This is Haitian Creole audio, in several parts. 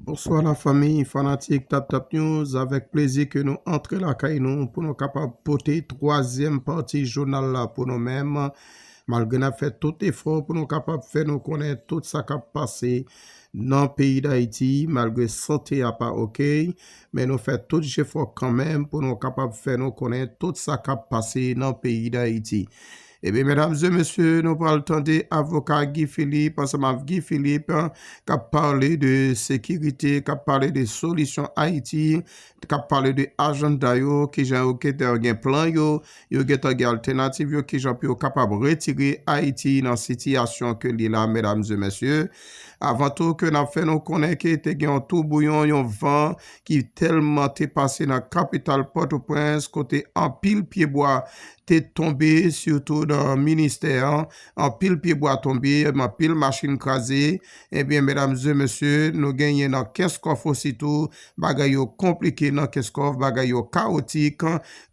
Bonswa la famiy fanatik tap tap news avèk plezi ke nou antre la kay nou pou nou kapab pote twazyèm pati jounal la pou nou menm malgre nap fè tout efò pou nou kapab fè nou konnen tout sa kap pase nan peyi dayiti malgre sante a pa ok men nou fè tout jefò kanmenm pou nou kapab fè nou konnen tout sa kap pase nan peyi dayiti. Ebyen medam e mesye nou pral tande avoka Guy Philippe ansanm avk Guy Philippe kap pale de sekirite kap pale de solisyon ayiti kap pale de ajanda yo kijan yo gentan gen plan yo yo gentan gen altenativ yo kijan pou yo kapab retire ayiti nan sitiyasyon ke li la medam e mesye avan tou ke nap fè nou konnen ke te gen yon tou bouyon yon van ki telman te pase nan kapital potoprens kote anpil pye bwa te tonbe sitou nan ministè an, anpil pye bwa tonbe, anpil machin kraze, ebyen medam ze mesye nou genyen nan kenscoff ositou bagay yo konplike nan kenscoff bagay yo kawotik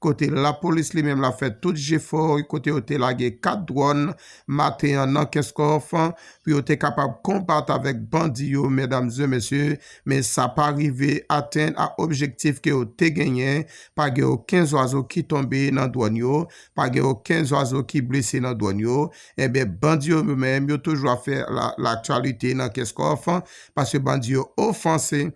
kote lapolis li menm la fè tout jefò kote yo te lage 4 dwòn maten an nan kenscoff pou yo te kapab konbat avèk bandi yo medam ze mesye men sa pa rive atenn a objektif ke yo te genyen Pa gen oken zwazo ki tonbe nan dwòn yo, pa gen oken zwazo ki blese nan dwòn yo. Enben, bandi yo yo menm yo toujou ap fè laktiyalite nan Kenscoff, paske bandi yo ofanse,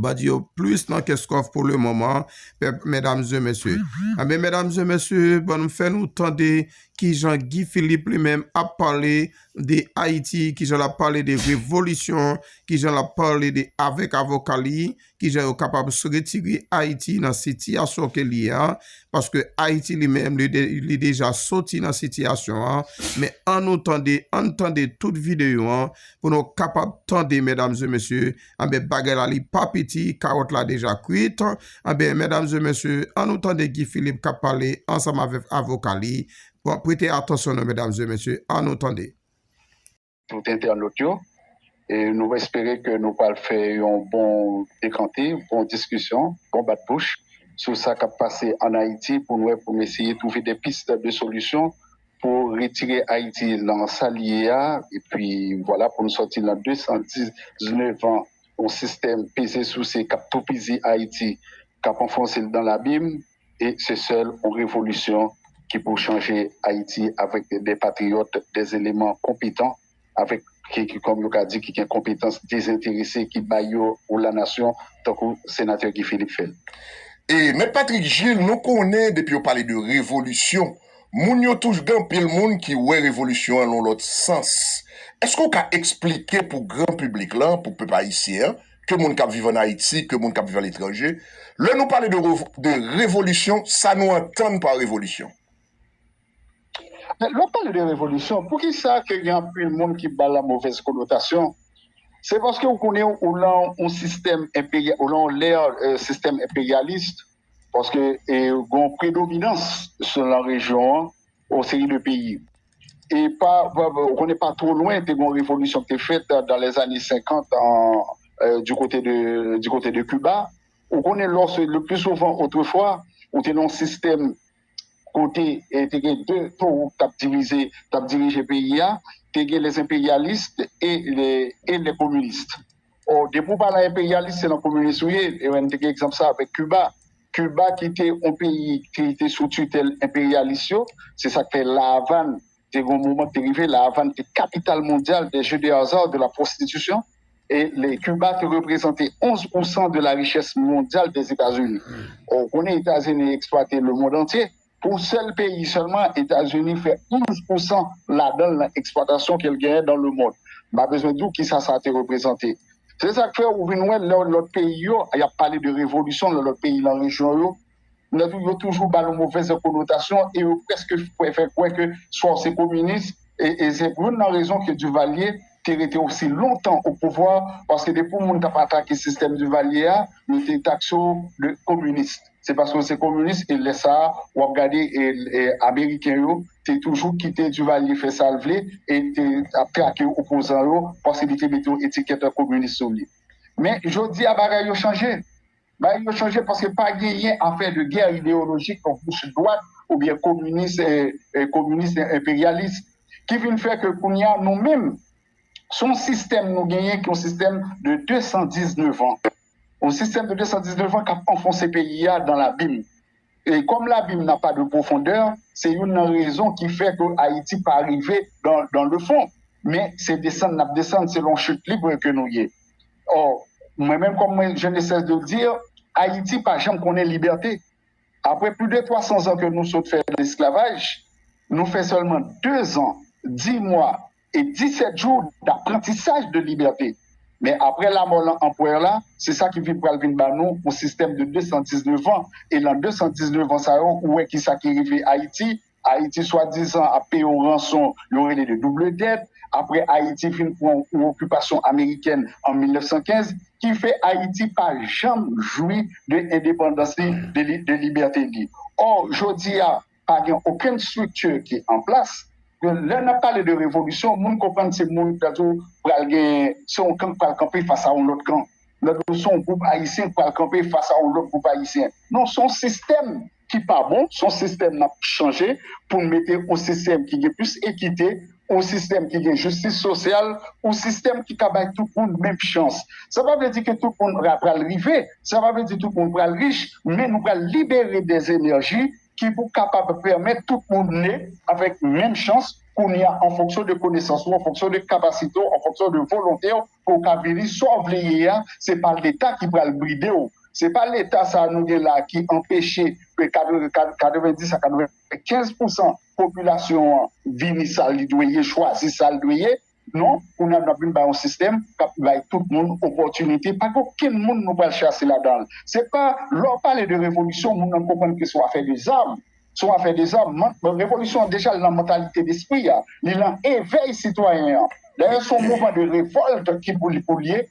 bandi yo plis nan Kenscoff pou le moman, mèdamzemesye. Enben, mèdamzemesye, ban nou fè nou tande ki jan Guy Philippe li menm ap pale de Ayiti, ki jan l ap pale de revolisyon, ki jan l ap pale de avèk avoka li, kijan yo kapab retire Ayiti nan sitiyasyon ke l ye an, paske Ayiti li menm li deja soti nan sitiyasyon an, men an nou tande, an n tande tout videyo an pou nou kapab tande medam e mesye, anben bagay la li pa piti, kawòt la deja kwit, anben medam e mesye an nou tande Guy Philippe kap pale ansanm avèk avoka li, pwete atansyon nou medam e mesye, an nou tande. tout entènot yo e nou espere ke nou pral fè yon bon dekante, bon diskisyon, bon bat bouch sou sa kap pase an Ayiti pou nou wè pou nou eseye twouve de pis de solisyon pou retire Ayiti lan sa li ye a epi vwala pou nou sòti lan 219 an yon sistèm peze souse kap toupizi Ayiti kap anfonse l dan labim. e se sèl on revolisyon ki pou chanje Ayiti avèk dè patriyòt, dè eleman konpetan, avèk ki kòm yo ka di ki gen konpetans dezenterese ki bay yo pou la nasyon tankou Senatè Guy Philippe fè l. E Mèt Patrick Gilles nou konnen depi yo pale de revolisyon moun yo touj gen anpil moun ki wè revolisyon an lon lòt sans. Èske ou ka esplike pou gran piblik lan, pou pèp ayisyen an, ke moun kap viv an Ayiti, ke moun kap viv aletranje, lè nou pale de revolisyon, sa nou antann pa revolisyon? Lè nou pale de revolisyon, pou ki sa ke gen anpil moun ki ba la movèz konotasyon, se paske ou konnen ou lan yon sistèm enperyalis, ou lan yon lè sistèm enperyalis, paske gen yon predominans sou lan rejyon an, yon seri de peyi. E pa, ou konnen pa two lwen te gen yon revolisyon ki te fèt dan lè zane 50 di kote de, di kote de Kiba. Ou konnen lò se le pli souvan otrefwa ou te nan yon sistèm kote te gen de towo k t ap divize, k t ap dirije peyi a, te gen les imperialistes et les communistes. Oh depi ou pa nan enperyalis se nan kominis ou ye, e mwen te gen egzanp sa avèk Kiba. Kiba ki te yon peyi ki te sou titèl enperyalis yo, se sa k fè La Avàn te gen yon moman ki te rive La Avàn te kapital mondyal des jeux de hasard, de la prostitution e le Kiba te reprezante 11 pousan de la richès mondyal dè Etazini. Ou konnen Etazini eksplwate lemond antye. Pou sèl peyi sèlman Etazini fè 11 pou san ladan l nan eksplwatasyon ke l genyen dan le mond. M pa bezwen di w kisa sa te reprezante. Se sa k fè ou vin wè lè lòt peyi yo, y ap pale de revolisyon nan lòt peyi nan rejyon yo, yo toujou ba l yon movèz konotasyon e yo prèske fè kwè ke swa w se kominis e se youn nan rezon ke Divalye te rete osi lontan o pouvwa paske depi yon moun t ap atake sistèm Divalye a, yo te takse w de kominis. se paske w se kominis e lè sa a w ap gade ameriken yo te toujou kite Duvalier fè sa l vle e l te ap trake opozan yo paske li te mete yon etikèt kominis sou li. Men jodi a bagay yo chanje. Bagay yo chanje paske pa genyen afè de gè ideyolojik nan goch dwat oubyen kominis kominis enperyalis ki vin fè ke kounye a nou menm se yon sistèm nou genyen ki yon sistèm de 219 an. yon sistèm de 219 an kap anfonse peyi a dan labim e kòm labim na pa de pwofondè se youn nan rezon ki fè ke Ayiti pa rive dan le fon men se desann nap desann selon chut libre ke nou ye ò mwen menm kòm mwen je ne sès de dir Ayiti pa janm konnen libète apre plu de 300 zan ke nou sot fè esklavaj nou fè sèlman 2 zan 10 mwa e 17 jou daprantisaj de libète. Men apre lamò lan anpwèr la, se sa ki vin pral vin ba nou yon sistèm de 219 an, e lan 219 an sa yo ou wè ki sa ki rive Ayiti, Ayiti swadizan ap peye yon ranson yo rele de double dèt, apre Ayiti fin pran yon okipasyon amerikèn an 1915, ki fè Ayiti pa janm jwi de endepandans li, de libète li. Ò, jodi a. pa gen okenn structure ki an plas, men lè nap pale de revolisyon moun konprann se moun sa tou pral gen se yon kan k pral kanpe fas a yon lòt kan, lòt se yon gwoup ayisyen k pral kanpe fas a yon lòt gwoup ayisyen, non se yon sistèm ki pa bon, se yon sistèm nap chanje pou n mete yon sistèm ki gen plis ekite, yon sistèm ki gen jistis sosyal, yon sistèm ki ka bay tout moun menm chans. Sa pa vle di ke tout moun pral rive, sa pa vle di tout moun pral rich, men nou pral libere dè enèji ki pou kapab pèmèt tout moun ne avèk menm chans kounye a an fonksyon de konesans ou, an fonksyon de kapasite w, an fonksyon de volonte w pou w ka vini sa w vle ye a, se pa leta ki pral bride w, se pa leta sa nou gen la ki anpeche 90 a 95 pousan popilasyon an vini sa li dwe ye, chwazi sa l dwe ye. Non, kounya n ap vin bay yon sistèm k ap bay tout moun opòtinite. Pa gen okenn moun nou pral chase ladan l. Se pa lè w pale de revolisyon moun nan konprann ke se yon afè de zam. Se yon afè de zam. Revolisyon an deja li nan mantalite despri a. Li nan evèy sitwayen an. Dayè se yon mouvman de revòlt ki pou li pou l ye.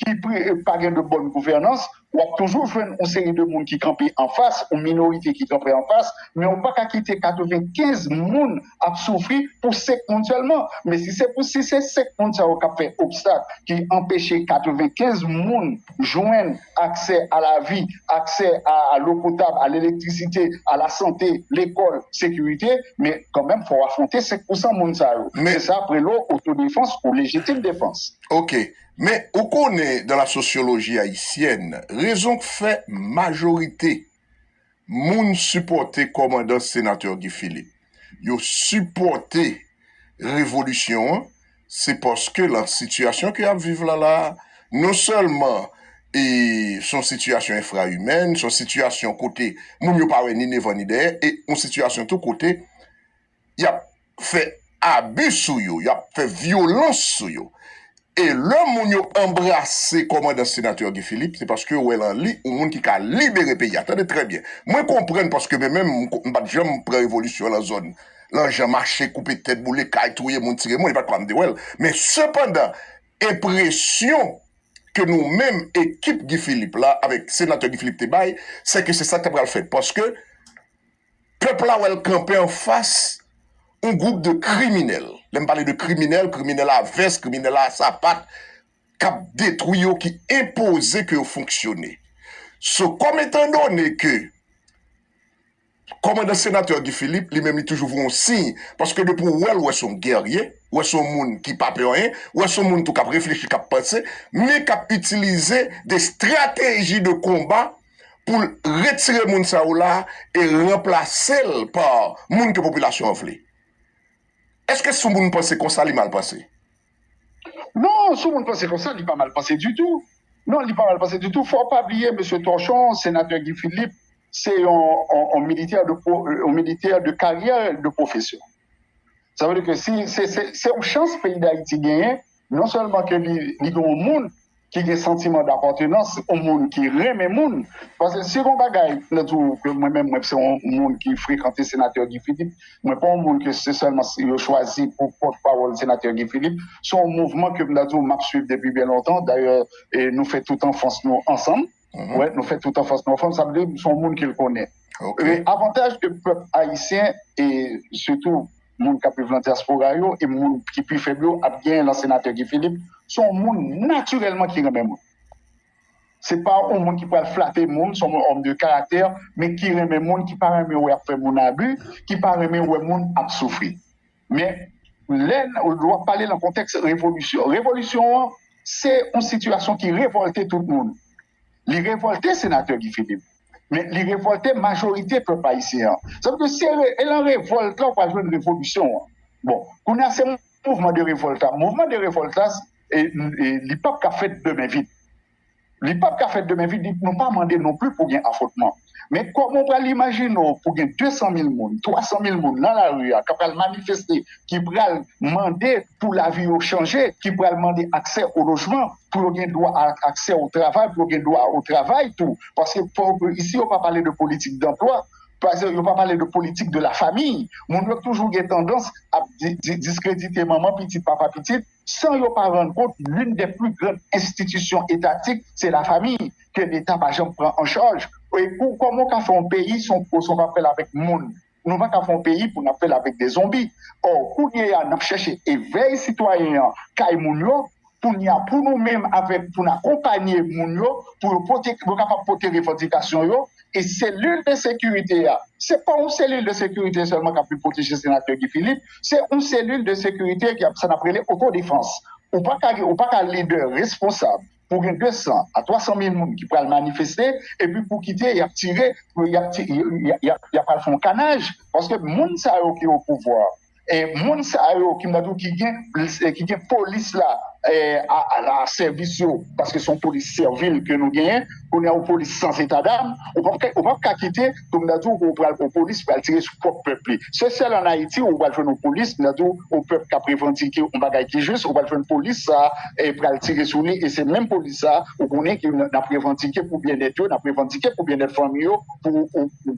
ki pa gen de bòn gouvènans, w ap toujou jwenn yon seri de moun ki kanpe anfas, yon minorite ki kanpe anfas, men ou pa ka kite 95 moun ap soufri pou 5 moun sèlman. Men si se pou si se 5 moun sa yo k ap fè obstak, ki anpeche 95 moun jwenn aksè a lavi, aksè a lò potab, a lelektrisite, a lasante, lekòl, sekirite, men kanmenm fò w afwonte 5 pousan moun sa yo. Se sa Prelo, otodefans ou lejitim defans. Ok. Men, ou konnen dans la sociologie haïtienne, rezon k fè majorite moun sipòte kòmandan Senatè Guy Philippe, yo sipòte revolisyon an, se paske lan sitiyasyon ke y ap viv la la a, non sèlman e s on sitiyasyon enfraimèn, s on sitiyasyon kote moun yo pa wè ni devan ni dèyè, e on sitiyasyon tou kote, y ap fè abi sou yo, y ap fè vyolans sou yo. E lè moun yo anbrase kòmandan Senatè Guy Philippe, se paske yo wè lan li yon moun ki ka libere peyi a. Tande trè byen. Mwen konprann paske mwen menm m pat janm pran revolisyon lan zòn, lan jan mache, koupe tèt, boule kay, touye moun, tire moun, e pat konsa m te wè l. Men sepandan, enpresyon ke nou menm ekip Guy Philippe la avèk Senatè Guy Philippe te bay, sè ke se sa k ta pral fèt. Paske. Pèp la wè l kanpe an fas yon gwoup de kriminèl, lè m pale de kriminèl, kriminèl a vès, kriminèl a sapat, k ap detwi yo, ki enpoze ke yo fonksyone. So, kòm etan done ke kòmandan Senatè Guy Philippe, li menm li toujou voye yon siy, paske depi w wè l, w wè se yon gèrye, w wè se yon moun ki pa pè anyen, w wè se yon moun tou k ap reflechi, k ap panse, men k ap itilize de strateji de konba, pou l retire moun sa yo la e ranplase l pa moun ke popilasyon an vle. Eske sou moun panse konsa li mal panse? Non, sou moun panse konsa li pa mal panse ditou. Non, li pa mal panse ditou. Fò w pa bliye mesye Torchon, senatè Guy Philippe se yon militè de karyè, de pwofesyon. Sa vle di ke se yon chans peyi Dayiti genyen Non sèlman ke li gen yon moun ki gen santiman dapòtenans, yon moun ki renmen moun, paske si gen yon bagay mwen di w ke mwen menm mwen se yon moun ki frekante Senatè Guy Philippe, mwen pa yon moun ke se sèlman si yo chwazi pou pòt pawòl Senatè Guy Philippe, se yon mouvman ke m ta di w m ap swiv depi byen lontan, dayè nou fè tout anfans nou ansanm. wè nou fè tout an fòs nan fòm sa vle di son moun ke l konnen e avantaj ke pèp ayisyen e sitou moun kap viv nan dyaspora yo e moun ki pi fèb yo ap gen lan senatè Guy Philippe son moun natirèlman ki renmen moun se pa yon moun ki pral flate moun son moun òm de karaktè men ki renmen moun ki pa renmen wè ap fè moun abi ki pa renmen wè moun ap soufri. Men, lè w ap pale nan kontèks revolisyon, revolisyon an se yon sitiyasyon ki revòlte tout moun. Li revòlte senatè Guy Philippe, men li revòlte majorite pèp ayisyen an. Sa vle di se nan revòlt la ou pral jwenn revolisyon an. Bon, kounye a se mouvman de revòlt la. Mouvman de revòlt la, li pap ka fèt de men vid. Li pap ka fèt demen vit, nou pa mande non pli pou gen afwontman. Men kòman w pral imajine w pou gen 200 mil moun, 300 mil moun nan lari a k ap pral manifeste, ki pral mande pou lavi yo chanje, ki pral mande aksè o lojman, pou yo gen dwa a aksè o travay, pou yo gen dwa o travay tou. Paske fò w ke isi yo pa pale de politik danplwa, pase yo pa pale de politik de la famiy. Moun yo toujou gen tandans ap di diskredite manman pitit, papa pitit. san yo pa rann kont youn dè pli gran enstitisyon etatik se lafami ke leta pa janm pran an chaj e pou kòman w ka fè yon peyi si w si w pa fè l avèk moun nou pa ka fè yon peyi pou n ap fè l avèk de zonbi ò kounye a n ap chèche evèy sitwayen an kay moun yo kounye a pou nou menm avèk pou n akonpanye moun yo pou yo pote pou yo kapab pote revandikasyon yo. E selil de sekirite a, se pa yon selil de sekirite sèlman k ap vin pwoteje senatè Guy Philippe, se yon selil de sekirite ki ap sa n ap rele otodefans. Ou pa ka gen, ou pa ka lidè responsab pou gen 200 a 300 mil moun ki pral manifeste epi pou kite y ap tire, y ap al fè yon kanaj paske moun sa yo ki opouvwa. e moun sa yo ki mwen di w ki gen plis e ki gen polis la e ala sèvis yo paske son polis sèvil ke nou genyen kounye a yon polis san zeta dam ou pap ka ou pap ka kite pou mwen di w ou pral yon polis pral tire sou pwòp pèp li se sèl an ayiti ou pral jwenn yon polis mwen di w yon pèp kap revandike yon bagay ki jis ou pral jwenn polis sa e pral tire sou li e se menm polis sa ou konnen ki nap revandike pou byennèt yo nap revandike pou byennèt fanmi yo pou ou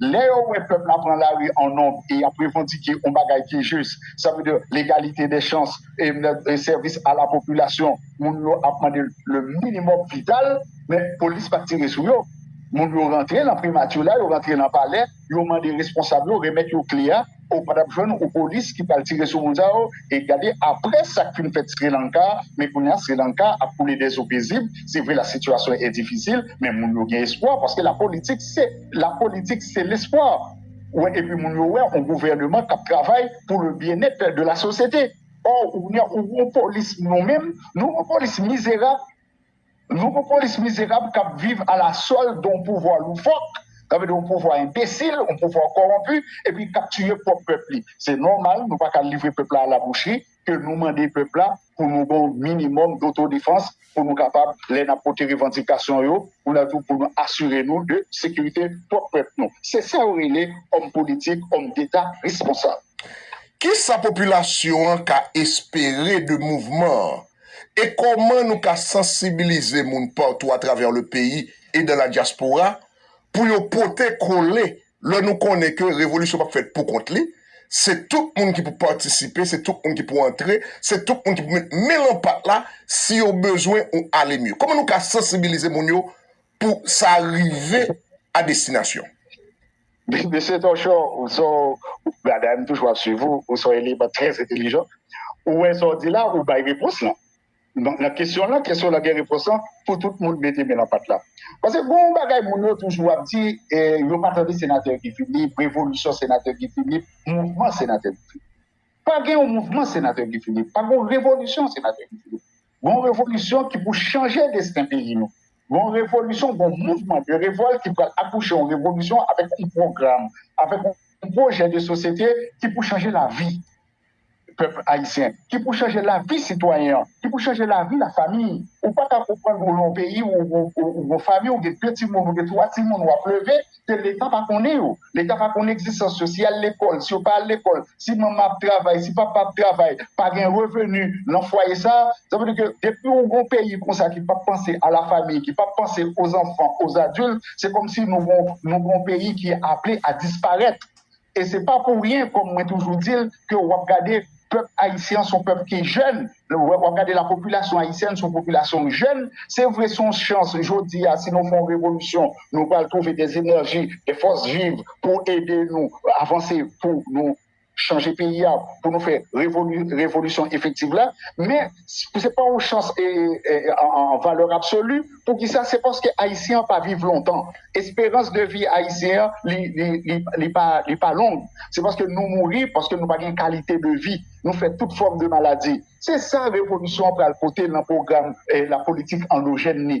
Lè yo wè pèp la pran lari an nonb e y ap revandike yon bagay ki jis, sa vle di legalite dè chans, sèvis a la popilasyon, moun yo ap mande le minimòm vital, men polis pa t tire sou yo. Moun yo rantre nan primati la, yo rantre nan palè, yo mande responsab yo remèt yo kle a. Ou pa tap jwenn ou polis ki pral tire sou moun sa yo e gade aprè sak fin fèt srilanka men kounya srilanka ap koule dè zo pezib se vre la sitiyasyon e difisil men moun yo gen espwa paske la politik se la politik se lespwa ou wè epi moun yo wè on gouvèneman kap travay pou le byennèt de la sosyete ò kounya ou gon polis nou menm nou gon polis mizerab Nouvo polis mizerab k ap viv a la sòl de yon pouvwa loufòk, sa vle di yon pouvwa enbesil, yon pouvwa kowonpi epi k ap tiye pwòp pèp li. Se nòmal nou pa ka livre pèp la a la bouchri ke nou mande pèp la pou nou gen yon minimòm dotodefans pou nou kapab lè n ap pote revandikasyon yo pou nou tou pou nou asire nou de sekirite pwòp pèp nou. Se sa yo rele òm politik, òm deta responsab. Kisa popilasyon an ka espere de mouvman an? e kòman nou ka sansibilize moun patou atravè le peyi e dan la dyaspora pou yo pote kole lè nou konnen ke revolisyon pap fèt pou kont li, se tout moun ki pou patisipe, se tout moun ki pou antre, se tout moun ki pou met men lan pat la si yo bezwen yon ale mye. Kòman nou ka sansibilize moun yo pou sa rive a destinasyon? Mesye Torchon, ou son bagay, m toujou ap swiv ou, ou son eleman trè entelijan. Ou wè sa w di la, ou bay repons lan. Nan kesyon lan, kesyon lan gen repons lan pou tout moun mete men nan pat la. Pase gen yon bagay moun yo toujou ap di, yo pa tande Senatè Guy Philippe, revolisyon Senatè Guy Philippe, mouvman Senatè Guy Philippe. Pa gen yon mouvman Senatè Guy Philippe, pa gen yon revolisyon Senatè Guy Philippe. Gon revolisyon ki pou chanje desten peyi nou. Gon revolisyon, gon mouvman de revòl ki pral akouche yon revolisyon avèk yon pwogram, avèk yon pwojè de sosyete ki pou chanje lavi pèp ayisyen, ki pou chanje lavi sitwayen an, ki pou chanje lavi lafami. Ou pa ka konprann ou nan yon peyi ou gon fanmi, ou gen de timoun, ou gen twa timoun w ap leve, ke leta pa konnen yo, leta pa konnen egzistans yo, si y al lekòl, si yo pa al lekòl, si manman ap travay, si papa ap travay, pa gen reveni nan fwaye sa a, sa vle di ke depi ou gon peyi konsa ki pap panse a la famiy, ki pap panse o zanfan, o zadil, se kòmsi nou gon peyi ki aple a disparèt. E se pa pou ryen kòm mwen toujou di l ke wap gade pèp ayisyen an son pèp ki jèn, wap gade la popilasyon ayisyèn son popilasyon jèn, se vre son chans jodi a si nou fon revolisyon nou pral twouve de enèji, de fòs viv pou ede nou avanse pou nou chanje peyi a pou nou fè revolisyon efektiv la men. Si se pa yon chans an valè absoli, poukisa? Se paske Ayisyen an pa viv lontan. Esperans de vi Ayisyen an, li pa long. Se paske nou mouri, paske nou pa gen kalite de vi. Nou fè tout fòm de maladi. Se sa revolisyon an pral pote nan pwogram la politik andojèn li.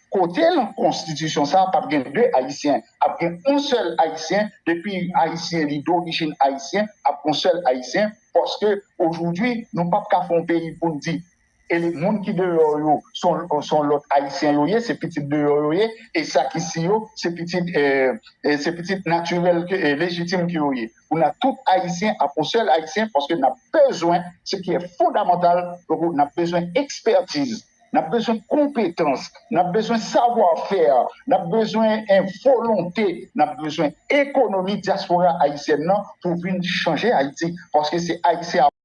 Kote nan konstitisyon sa pap gen 2 ayisyen ap gen yon sèl ayisyen depi ayisyen li dorijin ayisyen ap gon sèl ayisyen paske ojoudwi nou pap ka fon peyi poun di e moun ki deyò yo son lòt ayisyen yo ye se pitit deyò yo ye e sa ki si yo se pitit se pitit natirèl lejitim ke yo ye pou nan tout ayisyen ap yon sèl ayisyen paske nap bezwen se ki e fondamantal nap bezwen ekspètiz N ap bezwen konpetans, n ap bezwen savwa fè, n ap bezwen volonte, n ap bezwen ekonomi dyaspora ayisyèn nan pou vin chanje Ayiti paske se Ayisyen ap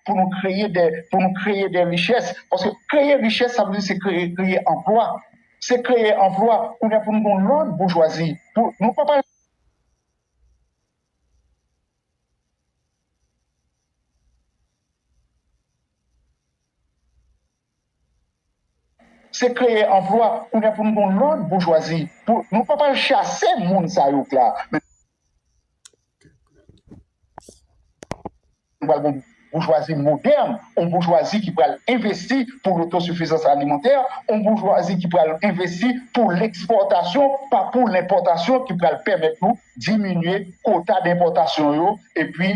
pou nou kreye dè pou nou kreye dè richès paske kreye richès sa vle di se kreye kreye anplwa se kreye anplwa kounye a pou nou gen yon lòt boujwazi pou nou pa pale Se kreye anplwa kounya pou nou gen yon lòt boujwazi pou nou pa pral chase moun sa yo k la men nou pral gen yon boujwazi modèn yon boujwazi ki pral envesti pou lotosifizans alimantè yon boujwazi ki pral envesti pou lekspòtasyon pa pou lenpòtasyon ki pral pèmèt nou diminye kota denpòtasyon yo epi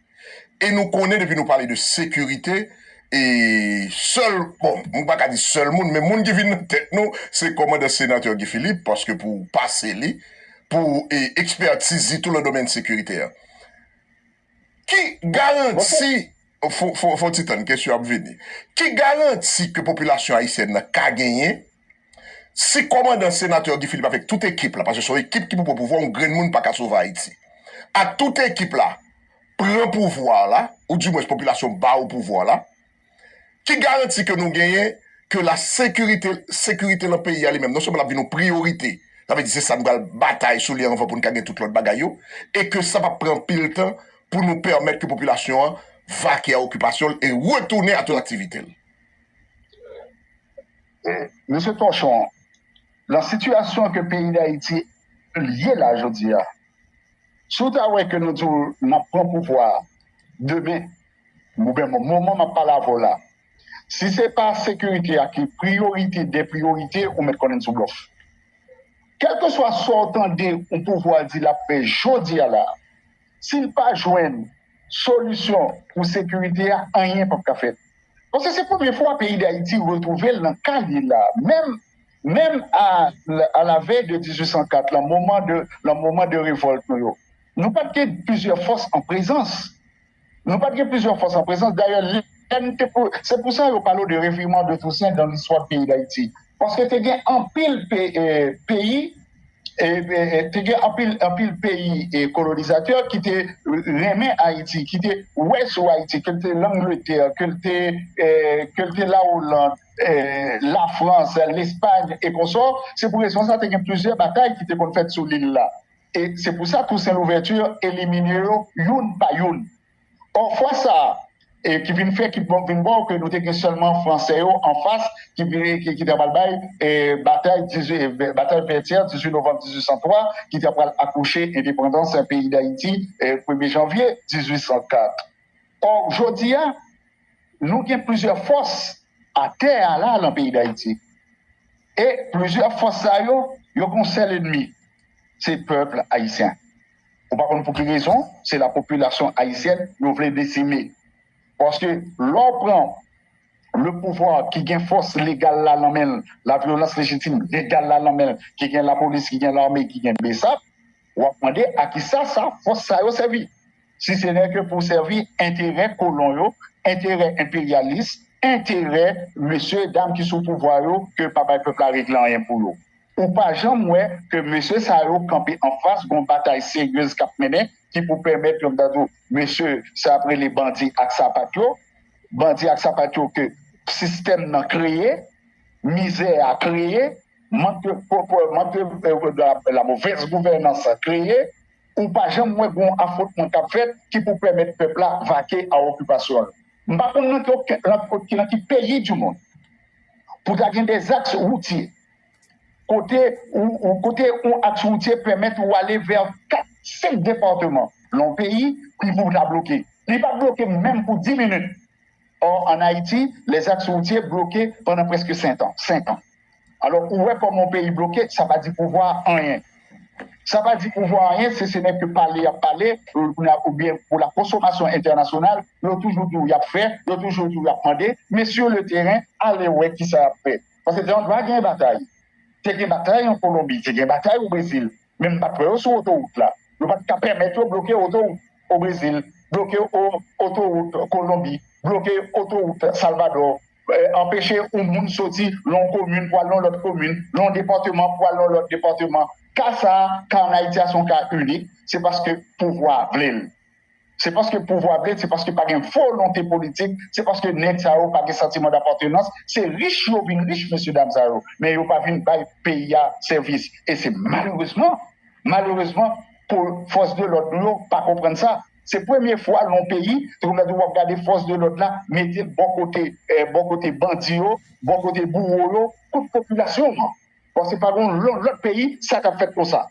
E nou konnen depi nou pale de sekirite e sèl, bon m pa ka di sèl moun men moun ki vin nan tèt nou se kòmandan senatè Guy Philippe paske pou pase li, pou ekspètiz li tou nan domèn sekirite a. Ki garanti, fon ti tann kesyon ap vini, ki garanti ke popilasyon ayisyèn nan ka genyen Si kòmandan senatè Guy Philippe avèk tout ekip la, paske se yon ekip ki pou pran pouvwa, yon grenn moun pa ka sove Ayiti. Ak tout ekip la pran pouvwa la, ou di mwens popilasyon ba ou pouvwa la, ki garanti ke nou genyen ke la sekirite, sekirite lan peyi a li menm, non sèlman l ap vin yon priyorite, sa vle di se sa nou pral batay sou li anvan pou nou ka gen tout lòt bagay yo, e ke sa p ap pran anpil tan pou nou pèmèt ke popilasyon an vake a okipasyon l e retounen a tout aktivite l. Mesye Torchon, lan sitiyasyon ke peyi Dayiti ye la jodi a, si w ta wè ke nou di w n ap pran pouvwa a demen, oubyen moman m ap pale avè w la, si se pa sekirite a ki priyorite dè priyorite, ou mèt konnen n sou blòf. Kèlkeswa sa w tande yon pouvwa di l ap fè jodi a la, si l pa jwenn solisyon pou sekirite a, anyen p ap ka fèt. Paske se premye fwa peyi Dayiti retwouve l nan ka li la. Menm menm a la vèy de 1804, lan moman de lan moman de revòlt nou yo, nou pa t gen plizyè fòs an prezans. Nou pa t gen plizyè fòs an prezans. Dayè, lè n te pou se pou sa yo pale w de revirman de Tousen dan listwa peyi Dayiti. Paske te gen anpil pe peyi te gen anpil peyi kolonizatè ki te renmen Ayiti, ki te wè sou Ayiti, ke l te Langletè, ke l te La Oland, La Frans, Lespay, e konsò, se pou rezon sa te gen plizyè batay ki te konn fèt sou lil la. E se pou sa Tousen Louvèti elimine yo youn pa youn. Pafwa sa ki vin fè ki vin bon ke nou te gen sèlman fransè yo anfas ki te apral bay batay batay Vètyè 18 novanm 1803 ki te apral akouche endepandans peyi Dayiti premye janvye 1804. Ò jodi a nou gen plizyè fòs atè a la nan peyi Dayiti e plizyè fòs sa yo yo gen yon sèl enmi se pèp Ayisyen. Ou pa konn pou ki rezon se la popilasyon ayisyèn yo vle desime. Paske lè w pran le pouvwa ki gen fòs legal la lan men l, la vyolans lejitim legal la lan men l, ki gen lapolis, ki gen lame, ki gen bsap, w ap mande a ki sa sa fòs sa yo sèvi. Si se nè ke pou sèvi enterè kolon yo, enterè enperyalis, enterè mesye dam ki sou pouvwa yo ke pa bay pèp la regle anyen pou yo. Ou pa janm wè ke mesye sa yo kanpe anfas gon batay seryez kap mennen ki pou pèmèt yo ta di w mesye sa yap rele bandi ak sapat yo, bandi ak sapat yo ke sistèm nan kreye, mizè a kreye, mank lamove gouvènans kreye, ou pa janm wè gon afwontman kap fèt ki pou pèmèt pèp la vake a okipasyon l. M pa konn nan ki peyi di mond pou ta gen de zaks woutye. kote yon aks woutye pèmèt ou ale vè 4, 5 depatman nan yon peyi, pi pou ta bloke. Li pa bloke menm pou 10 minit. Ò, an Ayiti, lè zaks woutye bloke pandan prèske 5 an. Alò, ou wè kòman yon peyi bloke, sa pa di pouvwa a anyen. Sa pa di pouvwa a anyen, se se nèg ke pale y ap pale, oubyen pou la konsomasyon entènasyonal, yo toujou di w y ap fè, yo toujou di w y ap mande, men sou le teren, ale wè kisa y ap fè. Paske te yon dwa gen batay. Te gen batay an Kolonbi, te gen batay o Brezil, men m pa t wè yo sou otowout la. Yo pa t ka pèmèt yo bloke otowout o Brezil, bloke otowout Kolonbi, bloke otowout Salvadò, anpeche yon moun soti nan yon komin pou al nan yon lòt komin, nan yon depatman pou al nan yon lòt depatman. Ka sa a, ka an Ayiti a se yon ka inik, se paske pouvwa a vle l. Se paske pouvwa vle, se paske pa gen volonte politik, se paske nèg sa yo pa gen santiman dapatenans, se rich yo vin rich mesye dam sa yo, men yo pa vin bay peyi a sèvis e se malerezman, malerezman pou fòs de lòd nou yo pa konprann sa. Se premye fwa lon peyi ke wap wap gade fòs de lòd la mete l bò kote bò kote bandi yo, bò kote bouwo yo kont popilasyon an. Bon se pa gon lòt peyi sa tap fèt konsa.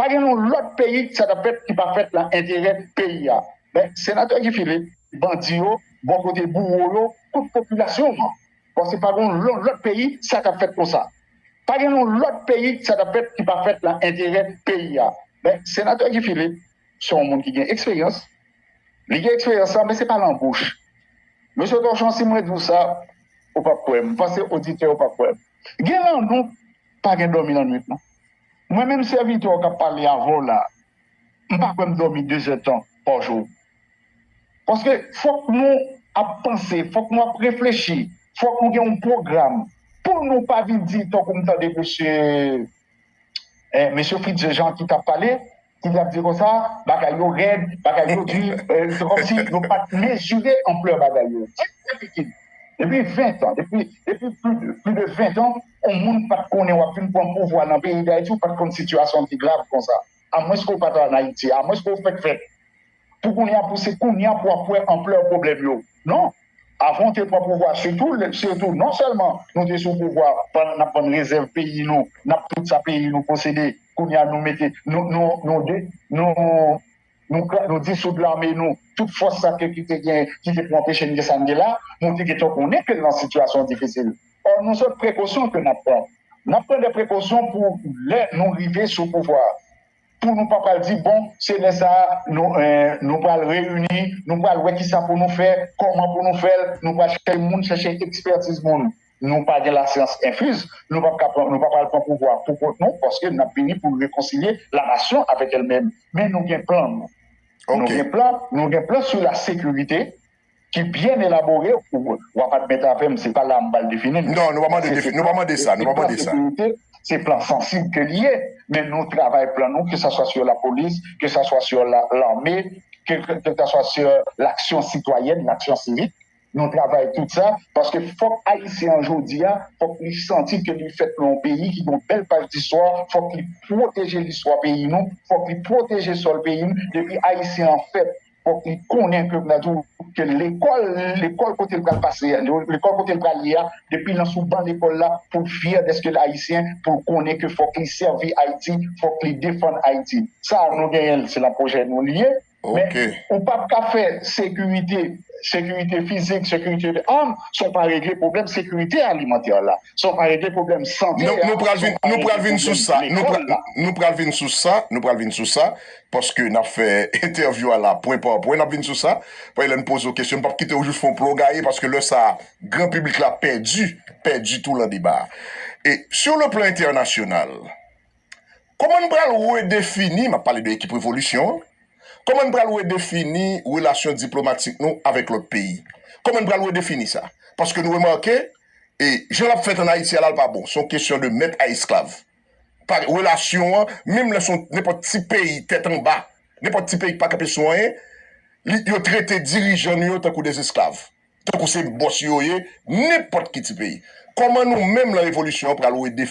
Pa gen yon lòt peyi sa tap fèt ki pa fèt nan enterè peyi a. Men Senatè Guy Philippe, bandi yo bò kote bouwo yo kont popilasyon an. Paske pa gen yon lòt peyi sa tap fèt konsa. Pa gen yon lòt peyi sa tap fèt ki pa fèt nan enterè peyi a. Men Senatè Guy Philippe se yon moun ki gen eksperyans. Li gen eksperyans la men se pa lan bouch. Mesye Torchon si mwen di w sa ou pap kwè m. M panse oditè yo pap kwè m. Gen lan nou pa gen dòmi lan nwit non. Mwen menm sèvitè w k ap pale avè w la, m pa kwè m dòmi dezèdtan pa jou. Paske, fòk nou ap panse, fòk nou ap reflechi, fòk nou gen yon pwogram pou nou pa vin di, tankou m tande mesye Fritz Jean ki t ap pale, Ti zak di konsa, bagay yo rèd, bagay yo di, se kòmsi yo pa t mezire anplè bagay yo. Ti zak di Kid, depi ventan, depi pli de ventan, yon moun pa t konnen w ap vin pran pouvwa nan peyi Dayiti, ou pa t konn sitiyasyon an te grav konsa, amwenske ou pa t an Ayiti, amwenske ou fèk fèt. Pou kounya pou se kounya pou wap wè anplè pwoblèm yo non avan ou te pran pouvwa sitou lè sitou non sèlman nou te sou pouvwa pandan nap vann rezèv peyi nou nap tout sa peyi nou posede kounya nou mete nou nou nou de nou nou kra nou disoud lame nou tout fòs sa ke kite gen kite pou anpeche n gen sa n gen la nou te gentan konnen ke n nan sitiyasyon difisil ò nou sòt prekosyon ke nap pran nap pran de prekosyon pou lè nou rive sou pouvwa. Pou nou pa pral di bon se lè sa a nou nou pral reyini, nou pral wè kisa pou nou fè, kòman pou nou fè l, nou pral chèche moun, chèche ekspètiz moun. Nou pa gen lasyans enfiz, nou pap ka pran, nou pa pral pran pouvwa pou kont nou paske n ap vini pou rekonsilye lanasyon avèk èlmenm. Men nou gen plan nou. Nou gen plan, nou gen plan sou lasekirite, ki byen elabore w ap admèt avè m se pa la m pral defini l non nou pa mande defini nou pa mande sa nou pa mande sa se plan sansib ke li ye men nou travay plan nou ke sa swa sou lapolis ke sa swa sou lame ke sa swa sou laksyon sitwayèn laksyon sivik nou travay tout sa paske fòk ayisyen an jodi a fòk li santi ke li fèt nan yon peyi ki gen yon bèl paj distwa fòk li pwoteje listwa peyi nou fòk li pwoteje sòl peyi nou depi ayisyen an fèt Fòk li konnen ke nan tou ke lekòl, lekòl kote l pral pase a, lekòl kote l pral ye a, depi l nan sou ban lekòl la, pou l fyè dèske l Ayisyen, pou l konnen ke fòk li sèvi Ayiti, fòk li defann Ayiti. Sa a nou genyen l, se nan pwojè nou li ye. Men, ou p ap ka fè sekirite, sekirite fizik, sekirite de âme, san w pa regle pwoblèm sekirite alimantè la, san w pa regle pwoblèm sante a, san w pa regle pwoblèm lekòl la. Nou pral vin sou sa, nou pral vin sou sa, nou pral vin sou sa. Paske n ap fè entèvyou a la pwen pa pwen, n ap vin sou sa. Paske lè n poze w kesyon, n pap kite w jis fè yon plon gaye paske lè sa a, gran piblik la pèdi, pèdi tou lan deba a. E sou le plan entènasyonal, kòman n pral redefini, m ap pale de ekip revolisyon an, kòman n pral redefini relasyon diplomatik nou avèk lòt peyi? Kòman n pral redefini sa? Paske nou remake, e jan l ap fèt an Ayiti a la, l pa bon. Se yon kesyon de mèt a esklav. pa relasyon an, menm lè son nenpòt ti peyi tèt anba, nenpòt ti peyi ki pa kanpe sou anyen, li yo trete dirijan nou yo tankou des esklav, tankou se bòs yo ye, nenpòt ki ti peyi. Kòman nou menm lan revolisyon an pral wè de.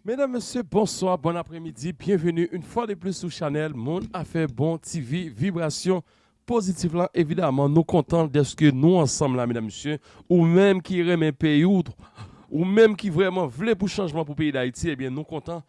Medam mesye bonswa bon apremidi byenveni yn fwa de plis sou chanèl moun afè bon TV vibrasyon pozitif lan evidaman nou kontan dèske nou ansanm la medam mesye ou menm ki renmen peyi w ou menm ki vrèman vle pou chanjman pou peyi dayiti ebyen nou kontan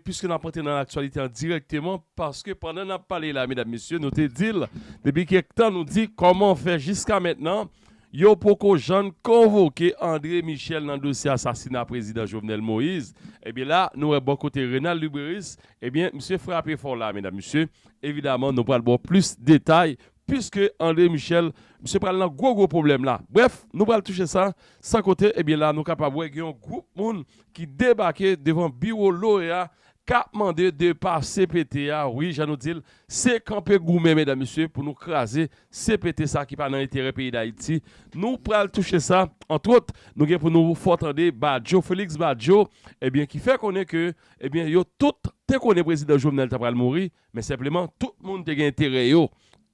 piske nap antre nan laktyalite an dirèkteman paske pandan nap pale la medam mesye nou te dil depi kèk tan nou di kòman fè jiska mètnan Yo poko jann konvoke André Michel nan dosye asasina prezidan Jovenel Moïse, ebyen la nou wè bò kote Renald Luberice, ebyen misye frape fò la medam mesye, evidaman nou pral baw plis detay puiske André Michel misye pral nan gwo gwo pwoblèm la, brèf nou pral touche sa, san kote ebyen la nou kapab wè gen yon gwoup moun ki debake devan biwo loea kap mande depa CPT a wi jan nou dil se kanpe goumen medam mesye pou nou kraze CPT sa ki pa nan enterè peyi dayiti nou pral touche sa antwot nou gen pou nou fò tande badjo Felix badjo ebyen ki fè konnen ke ebyen yo tout te konnen prezidan Jovenel ta pral mouri men senpleman tout moun te gen enterè yo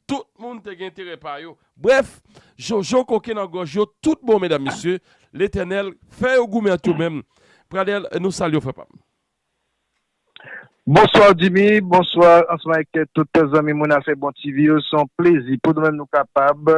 tout moun te gen enterè pa yo brèf jojo koke nan gòj yo tout bon medam mesye letènèl fè yo goumen ant yo menm pradèl nou salye w frè pam. Bonsoir Jimmy, bonsoir ansanm avèk tout zanmi moun afè bon TV yo, se yon plezi pou nou menm nou kapab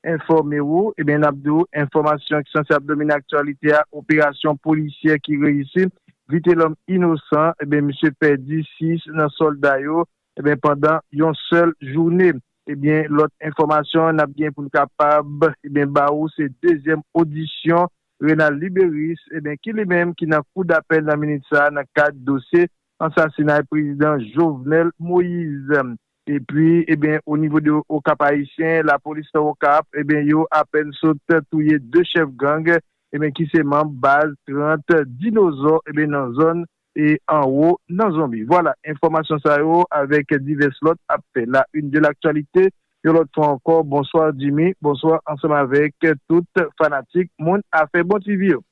enfòme ou, ebyen nap di ou enfòmasyon ki sanse ap domine aktyalite a operasyon polisyè ki reyisi Vitelòm inosan ebyen misye pèdi 6 nan sòlda yo ebyen pandan yon sèl joune ebyen lòt enfòmasyon nap gen poun kapab ebyen ba ou se dezyèm odisyon Renald Liberis, eben ki li menm ki nan kou dapèl nan minit sa a nan kad dosye ansasinay prezidan Jovenel Moise. Epi eben o nivo de Okap Ayisyen, lapolis nan Okap eben yo apèn sot touye 2 chèf gang eben ki se manb baz 30 dinozò eben nan zòn e anwo nan zonbi. Vwala, enfòmasyon sa yo avèk divès lòt ap fè la une de l'actualité yon lòt fwa ankò. Bonswa Jimmy, bonswa ansanm avèk tout fanatik moun afè bon TV yo.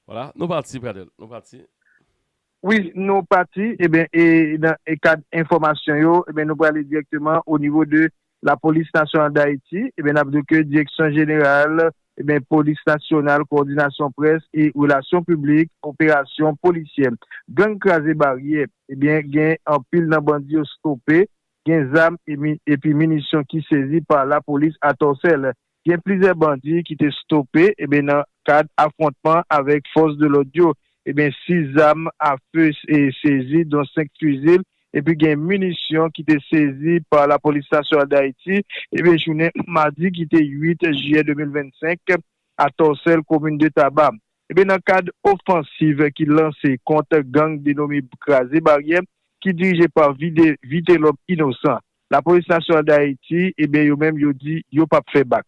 Vwala, nou pati Pradel, nou pati. Wi, nou pati, eben e nan kad enfòmasyon yo, eben nou prale dirèkteman o nivo de Lapolis Nasyonal Dayiti, n ap di w ke Direksyon Jeneral Polis Nasyonal, Kowòdinasyon Près e Relasyon Piblik, Operasyon Polisyè Gang Kraze Baryè, gen anpil nan bandi yo stope, gen zam epi minisyon ki sezi pa Lapolis Atòsèl, Gen plizyè bandi ki te stope nan kad afwontman avèk fòs de lòd yo. 6 zam a fe sezi don 5 fizil epi gen minisyon ki te sezi pa lapolis nasyonal Dayiti jounen madi ki te 8 jiyè 2025 a Tòsèl komin de Taba nan kad ofansiv ki lanse kont gang denome Kraze Baryè ki dirije pa Vitelòm Inosan. Lapolis Nasyonal Dayiti, ebyen yo menm yo di yo pap fè bak.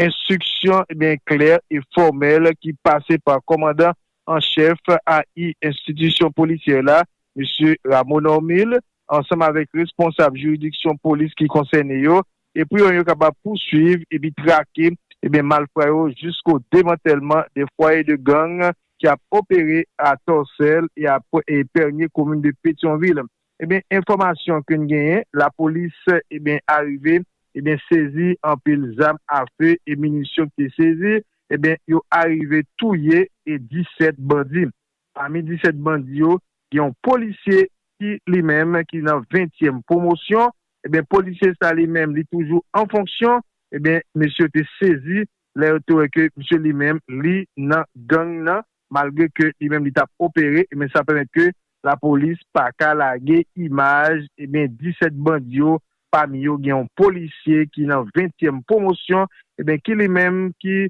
Enstriksyon, ebyen klè e fòmèl ki pase pa kòmandan an chèf AI enstitisyon polisyè la, Mesye Rameau Normil, ansanm avèk responsab jiridiksyon polis ki konsène yo, e pou yon yo kapab pouswiv epi trake, ebyen malfra yo jisko demantèlman de fwaye de gang ki ap opere a Tòsèl e a Pènye komin de Petyonvil. Ebyen enfòmasyon ke n genyen lapolis ebyen arive ebyen sezi anpil zam afe e minisyon ki te sezi ebyen yo arive touye e 17 bandi pami 17 bandi yo gen yon polisye ki li menm ki nan 20 tyèm pwomosyon ebyen polisye sa li menm li toujou an fonksyon ebyen mesye yo te sezi lè yo te wè ke misye li menm li nan gang nan malgre ke li menm li tap opere ebyen sa pèmèt ke lapolis paka lage imaj ebyen 17 bandi yo pami yo gen yon polisye ki nan 20 tièm pwomosyon ebyen ki li menm ki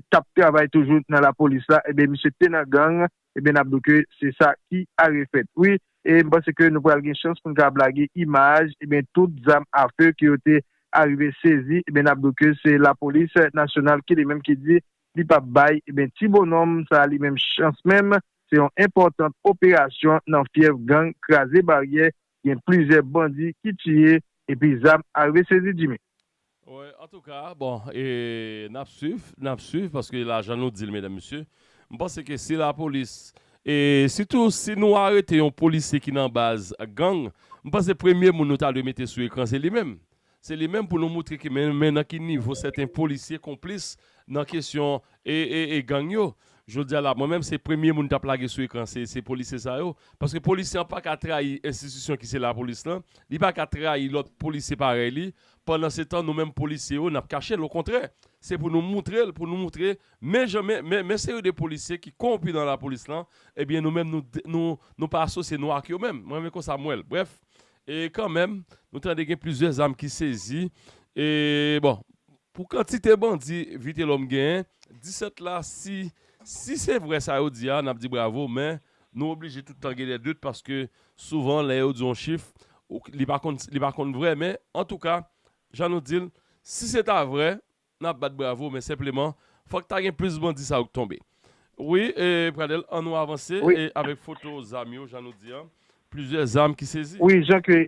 tap travay toujou nan lapolis la ebyen misye te nan gang. Ebyen nap do ke se sa ki are fèt wi e m panse ke nou pral gen chans pou n kapab lage imaj ebyen tout zam a few ke yo te arive sezi ebyen nap do ke se lapolis nasyonal ki li menm ki di li pap bay ebyen ti bononm sa li menm chans menm se yon enpòtant operasyon nan fyèv gang kraze baryè Gen plizyè bandi ki tiye epi zam arive sezi Jimmy. Wi antouka bon e nap swiv nap swiv paske la jan nou dil medam mesye m panse ke si la polis e sitou si nou arete yon polisye ki nan baz gang m panse premye moun nou ta dwe mete sou ekran se li menm Se li menm pou nou moutre ki men men nan ki nivo sèten polisye konplis nan kesyon e gang yo. Jodi a la mwen menm se premye moun tap lage sou ekran se se polisye sa yo. Paske polisye an paka trayi enstitisyon ki se lapolis lan, li paka trayi lòt polisye parèy li, pandan se tan nou menm polisye yo nap kache l okontrè se pou nou moutre l pou nou moutre men jan men men men seri de polisye ki konwonpi nan lapolis lan ebyen nou menm nou nou pa asosye nou ak yo menm mwen men konsa m wè l brèf E kanmenm, nou tande gen plizyè zam ki sezi. E bon, pou kantite bandi Vitelòm genyen, 17 la, si si se vrè sa yo di a, n ap di bravo, men nou oblije tout tan gen dè dout paske souvan lè yo di yon chif, li pa konn vrè men, antouka, jan nou di l, si se ta vrè, Nap bat bravo men senpleman fòk ta gen plis bandi sa yo k tonbe wi Pradel an nou avanse avèk foto zam yo jan nou di an plizyè zam ki sezi. Wi jan ke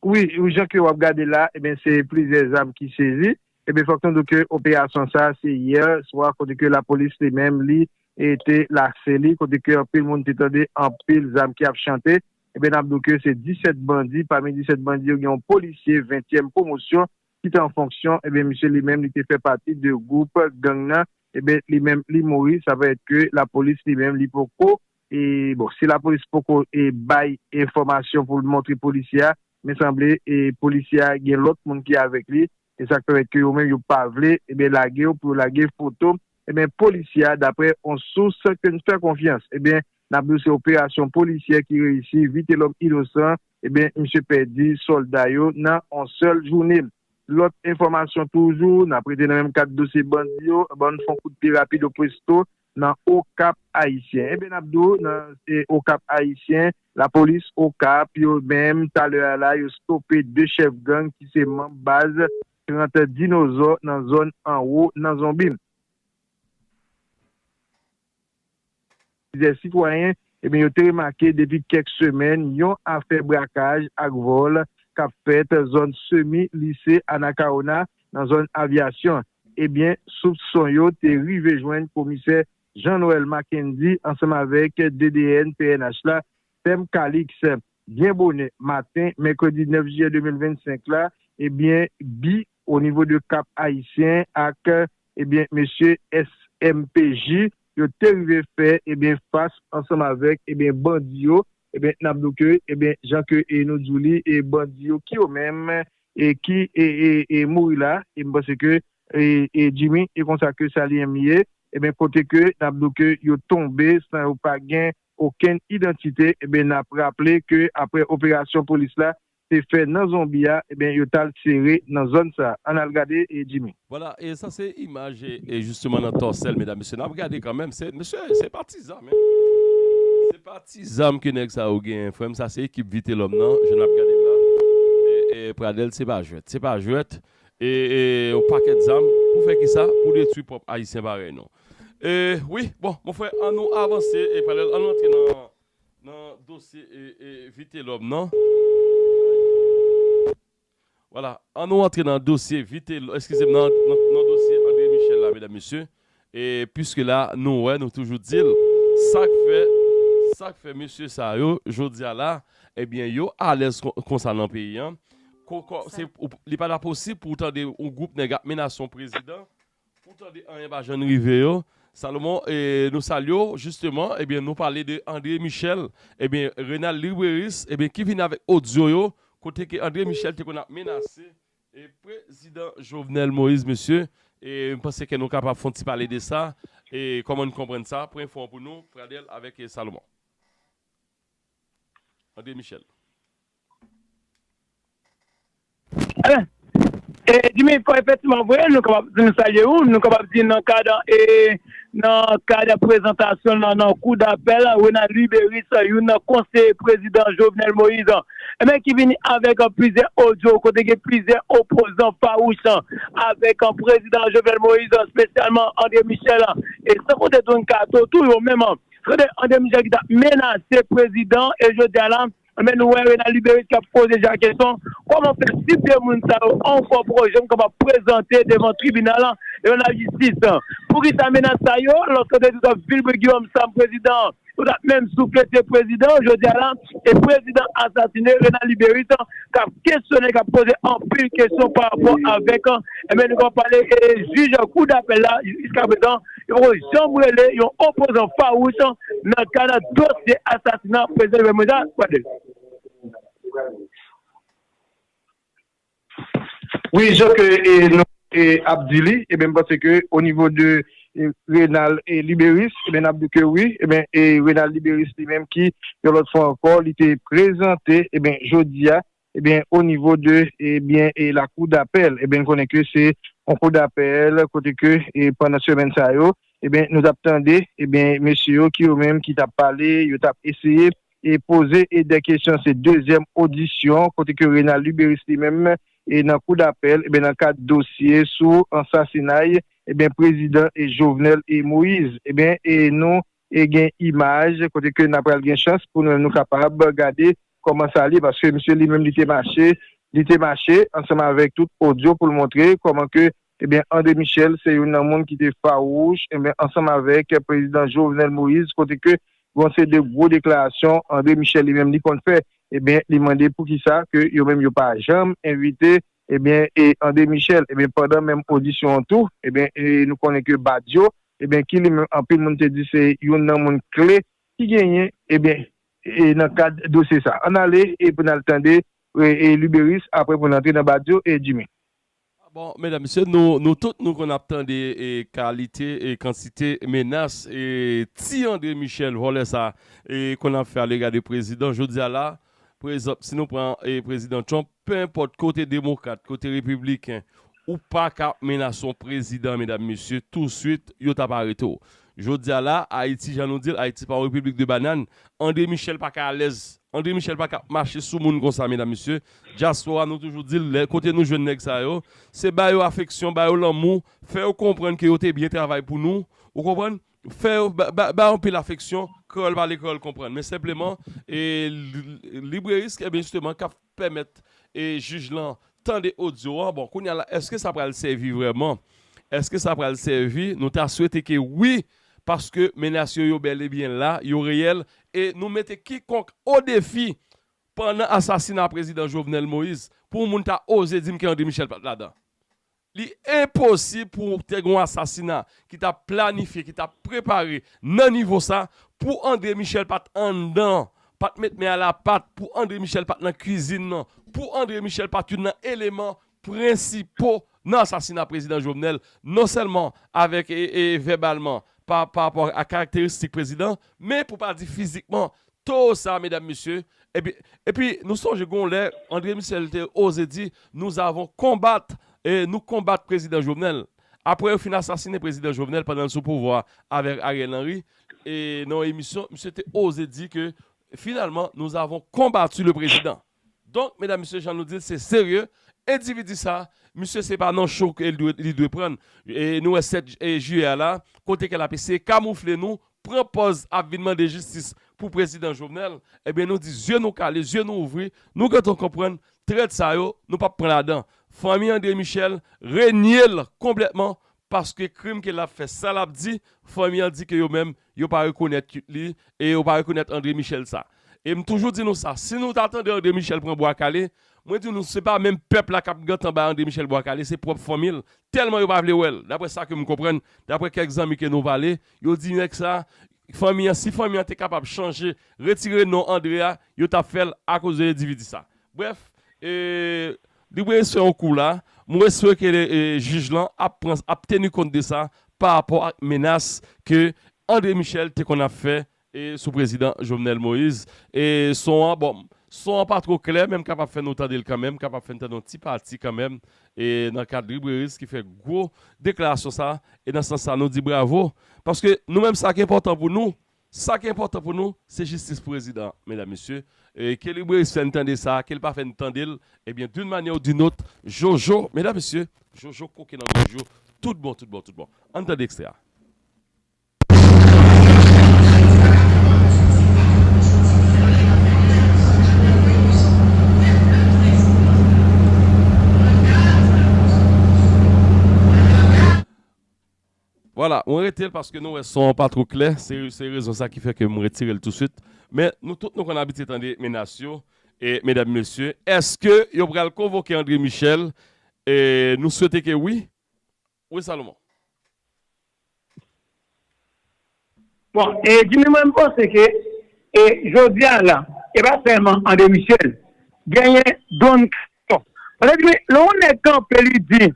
wi jan ke wap gade la ebyen se plizyè zam ki sezi ebyen fòk nou di w ke operasyon sa se yè swa kote ke lapolis li menm li te lase li kote ke anpil moun te tande anpil zam ki ap chante ebyen nap di w ke se 17 bandi pami 17 bandi yo gen yon polisye ventyèm pwomosyon ki te an fonksyon, ebyen misye li menm li te fè pati de gwoup gang nan, ebyen li menm li mouri, sa vle di ke lapolis li menm li poko, e bon si lapolis poko e bay enfòmasyon pou l montre polisye a, men sanble e polisye a gen lòt moun ki avèk li, e sa k pèmèt ke yo menm yo pa vle ebyen lage yo pou yo lage foto ebyen polisye a daprè on sous ke n fè konfyans, ebyen N ap di w se operasyon polisyè ki reyisi Vitelòm Inosan ebyen misye pèdi sòlda yo nan on sèl joune. Lòt enfòmasyon toujou n ap rete nan menm kad dosye bandi yo ban n fon kout pye rapido pwesto nan Okap Ayisyen ebyen n ap di w nan Okap Ayisyen lapolis Okap yo menm talè a la yo stope 2 chèf gang ki se manm baz 30 dinozò nan zòn Anwo nan zonbi. Plizyè sitwayen ebyen yo te remake depi kèk semèn yon afè brakaj ak vòl k ap fèt zòn semi lise Anacaona nan zòn Avyasyon ebyen soupson yo te rive jwenn komisè Jean Noël Mackendy ansanm avèk DDN pnh la Thème Calix byen bonè maten mèkredi 9 jiyè 2025 la ebyen bi onivo de Kap Ayisyen ak ebyen mesye SMPJ yo te rive fè ebyen fas ansanm avèk ebyen bandi yo ebyen nap di w ke ebyen jan ke e nou di w li e bandi yo ki yo menm e ki e e mouri la e m panse ke e e Jimmy e konsa ke sa li enm ye ebyen kote ke nap di w ke yo tonbe san yo pa gen okenn idantite ebyen nap raple ke aprè operasyon polis la te fè nan zonbi a ebyen yo tal sere nan zòn sa ann al gade Jimmy. Vwala e sa se imaj e jisteman nan tòsèl medam mesye nap gade kanmenm se mesye se pa ti zam hein se pa ti zam ke nèg sa yo genyen frèm sa se ekip vitelòm nan jan nap gadel la e pradèl se pa jwèt se pa jwèt e yon pakèt zam pou fè kisa pou detwi pwòp ayisyen parèy nou e wi bon mon frè an nou avanse e pradèl an nou antre nan Nan dosye Vitelòm nan, wala, an nou antre nan dosye Vitelòm, eskize m, nan dosye Andre Michel la, medam mesye, e piske la nou wè, nou toujou di l, sa k fè, sa k fè mesye sa yo, jodi a la, ebyen yo alèz konsa nan peyi an, li pa ta posib pou w tande yon gwoup nèg ap menase yon prezidan, Ou tande anyen pa jann rive yo Salomon nou salye w jisteman ebyen nou pale de André Michel ebyen Renald Libreris ebyen ki vini avèk odyo yo kote ke André Michel te konn ap menase prezidan Jovenel Moïse mesye e m panse ke nou kapab fon ti pale de sa e kòman n konprann sa pran enfo an pou nou Pradel avèk Salomon André Michel. E Jimmy fò efektiman vre nou kapab di nou salye ou, nou kapab di nan kad e nan kad prezantasyon nan nan kou dapèl Renald Louis Béris youn nan konseye prezidan Jovenel Moïse ebyen ki vini avèk plizyè odyo kote gen plizyè opozan fawouch avèk prezidan Jovenel Moïse espesyalman André Michel e san konte Don Kato tou yo menm se te André Michel ki ta menase prezidan e jodia la Enben nou wè Renald Luberice kap poze Jean kesyon, kòman fè si 2 moun sa yo ankò pwò janm kapab prezante devan tribinal la, devan lajistis? Poukisa menas sa yo, lòske se tout ap vilbre Guillaume Sam prezidan an, yo tap menm soufle se prezidan an jodi a la, e prezidan an asasine Renald Luberice kap kesyone, kap poze anpil kesyon parapò avèk, enben nou kapab pale jij kou dapèl la jiskaprezan. Yo poko janm rele yon opozan fawouch nan kad dosye asasina prezidan Jovenel Moïse la, gade. Wi jan ke nou ap di li e ben m panse ke o nivo de Renald Liberis e ben nap di ke wi e ben Renald Liberis li menm ki yon lòt fwa ankò li te prezante e ben jodia ebyen o nivo de ebyen e lakou dapèl ebyen n konnen ke se yon kou dapèl kote ke e pandan semèn sa yo ebyen nou tap tande ebyen mesye yo ki yo menm ki tap pale yo tap eseye e poze e dè kesyon se dezyèm odisyon kote ke Renald Luberice li menm e nan kou dapèl ebyen nan kad dosye sou ansasinay ebyen prezidan e Jovenel e Moïse ebyen e nou e gen imaj kote ke na pral gen chans pou nou menm nou kapab gade Kòman sa li ye paske misye li menm li te mache, li te mache ansanm avèk tout odyo pou l montre kòman ke ebyen André Michel se youn nan moun ki te fawouch ebyen ansanm avèk prezidan Jovenel Moïse kote ke gon se de gwo deklarasyon André Michel li menm li konn fè ebyen li mande poukisa ke yo menm yo pa janm envite ebyen e André Michel ebyen pandan menm odisyon an tou ebyen e nou konnen ke Badio ebyen ki li menm anpil moun te di se youn nan moun kle ki genyen ebyen. e nan kad dosye sa. Ann ale e pou n al tande e Luberice aprè pou n antre nan Badio e Jimmy. Bon medam mesye nou tout nou konn ap tande e kalite e kantite menas e ti Andre Michel vòlè sa e konn ap fè alega de prezidan jodi a la prezanp si nou pran e prezidan Trump Pe enpòt kote demokrat, kote repibliken, ou pa ka ap menase yon prezidan medam mesye, touswit yo t ap arete w. Jodi a la, Ayiti jan nou di l, Ayiti pa yon repiblik de banann, Andre Michel pa ka alèz, Andre Michel pa ka ap mache sou moun konsa medam mesye. Dyaspora nou toujou di l lè kote nou jwenn nèg sa yo, se ba yo afeksyon, ba yo lanmou, fè yo konprann ke yo te byen travay pou nou, ou konprann? Fè yo bay anpil afeksyon, kreyòl pale kreyòl konprann. Men senpleman, librerist, ebyen jisteman kap pèmèt jij lan tande odyo a, bon kounya la eske sa pral sèvi vrèman? Eske sa pral sèvi? Nou ta swete ke wi, paske menas yo yo bèl e byen la, yo reyèl, e nou mete kikonk o defi pandan asasina prezidan Jovenel Moïse pou yon moun ta oze dim ke André Michel pat ladan. Li enposib pou te gen yon asasina ki ta planifye, ki ta prepare nan nivo sa, pou André Michel pat anndan, pat met men a la pat, pou André Michel pat nan kwizin nan, pou André Michel pat youn nan eleman prensipo nan asasina Prezidan Jovenel, non sèlman avèk vèbalman, pa rapò a karakteristik Prezidan, men pou pa di fizikman, Toro sa medam mesye epi epi nou sonje gon lè Andre Michel te oze di nous avons combat e nou konbat prezidan Jovenel aprè yo fin asasine prezidan Jovenel pandan l sou pouvwa avèk Ariel Henry e nan yon emisyon misye te oze di ke finalman nous avons combattu le président. Donk medam mesye jan nou dil se serye endividi sa misye se pa nan cho ke li dwe prann nou wè 7 jiyè a la kote ke lap eseye kamoufle nou pran pòz ap vin mande jistis pou prezidan jovenel ebyen nou di zye nou kale zye nou ouvri nou gentan konprann trèt sa yo nou pap pran ladan fanmi andre michel reniel konplètman paske krim ke lap fè sa lap di fanmi an di ke yo menm yo pa rekonèt li e yo pa rekonèt André Michel sa e m toujou di nou sa si nou ta tande André Michel pran bwa kale mwen di nou se pa menm pèp la kap gentan bay André Michel bwa kale se pwòp fanmi l tèlman yo pa vle wè l daprè sa ke m konprann daprè kèk zanmi ke nou pale yo di nèg sa fanmi an si fanmi an te kapab chanje retire non André a yo tap fè l akoz de endividi sa brèf e Li brese fè yon kou la, mwen espere ke jij lan ap pran ap teni kont de sa pa rapò ak menas ke André Michel te konn ap fè sou prezidan Jovenel Moïse. E son an bon son an pa two klè men m kapab fè nou tande l kanmenm, m kapab fè n tande yon ti pati kanmenm e nan kad Librairie ki fè gwo deklarasyon sa e nan sans sa nou di bravo paske nou menm sa ki enpòtan pou nou Sa ki enpòtan pou nou, se jistis pou rezidan an, medam, mesye, e ke libreris fè n tande sa, ke l pa fè n tande l, ebyen d'une manière ou d'une autre, Jojo, medam, mesye, Jojo koke nan gòj yo tout bon, tout bon, tout bon. An n tande ekstrè a. Voilà, mwen rete l paske nou wè son an pa two klè, se se rezon sa ki fè ke m retire l touswit. Men nou tout nou konn abitye tande menas yo e medam mesye, eske yo pral konvoke Andre Michel e nou swete ke wi. Wi Salomon. Bon e Jimmy mwen m panse ke e jodia la e pa sèlman André Michel genyen Don Kato paske Jimmy lè yon nèg kanpe li di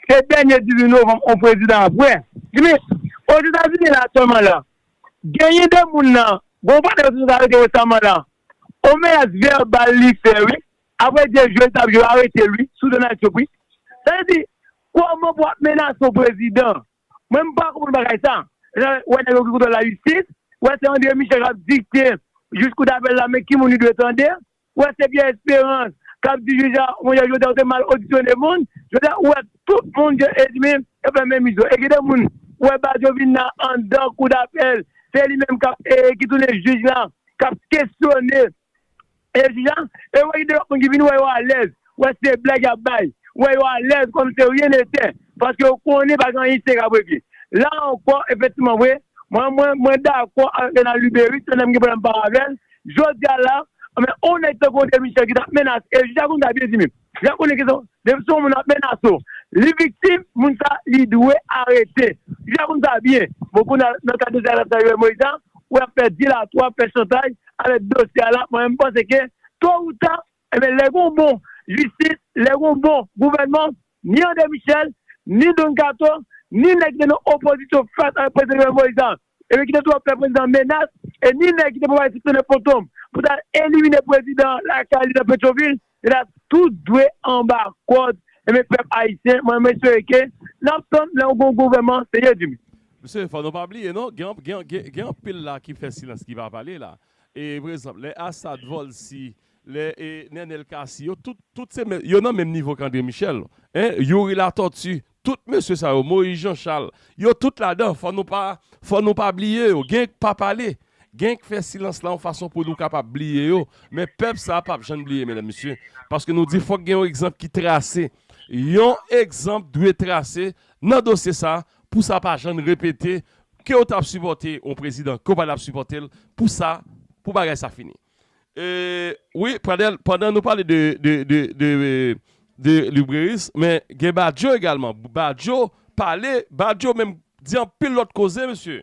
se dènye 18 novanm yon prezidan ap wè Jimmy ozetazini la sèlman la genyen 2 moun nan gon panèl yo te sot arete resaman la yon menas vèbal li fè wi aprè je jwe li tap jwe yo aretel wi sou Donald Trump wi sa vle di kòman pou wap menase yon prezidan Mwen m pa konprann bagay sa. Lè w wè nèg yo ki kontwòl lajistis, w wè se Andre Michel k ap dikte jij kou dapèl la men ki moun li dwe tande, w wè se Pierre Espérance k ap di jij la monchè jodi a ou te mal odisyone moun. Jodi a ou wè tout moun ke Edmi yo fè menm izo. E gen de moun ou wè Badio vin nan anndan kou dapèl se li menm k ap ki tounen jij la k ap kesyone Jodi a, e wè gen de lòt moun ki vin wè yo alèz, wè se blag y ap bay, wè yo alèz kòm se ryen netè, paske yo konnen pa gen anyen serye k ap regle. La ankò, efektivman vre, mwen dakò ak Renan Luberice, se yon nèg m gen pwoblèm m pa avè l, jodi a la, on nèg tankou André Michel ki t ap menase, e jodi a konsa byen di menm. Lè konnen ke depi se yon moun ap menase w, li viktim, moun sa li dwe arete. Li fè moun sa byen. Bon kounye a nan ka dosye a sa Jovenel Moïse a, ou wè ap fè dilatwa, ap fè chantaj avèk dosye a la, mwen menm m panse ke to ou ta, enben lè gen yon bon jistis, lè gen yon bon gouvènman, ni André Michel, ni Don Kato, ni nèg ki te nan opozisyon fas avèk prezidan Jovenel Moïse a, Ebyen kite twòp fè prezidan menas e ni nèg ki te pwomèt siksyone Fantom pou tal elimine prezidan an lakay li nan petrovil yo ta tout dwe anba kòd ebyen pèp ayisyen mwen espere ke nap tann lè yon gwo gouvèman serye vini. Mesye fò nou pa bliye non gen anpil la ki fè silans ki pa pale la e pou ekzanp lè Assad volcy lè nenel cassy yo tout se menm yo nan menm nivo k André Michel youri latortue Tout mesye sa yo Moïse Jean Charles yo tout ladan fò nou pa fò nou pa bliye yo gen k pa pale gen k fè silans la yon fason pou nou kapab bliye yo men pèp sa pap jann bliye medam mesye paske nou di fòk gen yon egzanp ki trase yon egzanp dwe trase nan dosye sa pou sa pa jann repete kew tap sipòte yon prezidan ke w pa tap sipòtel pou sa pou bagay sa fini. Wi Pradel pandan nou pale de Libreris men gen Badio egalman Badio pale Badio menm di anpil lòt koze mesye.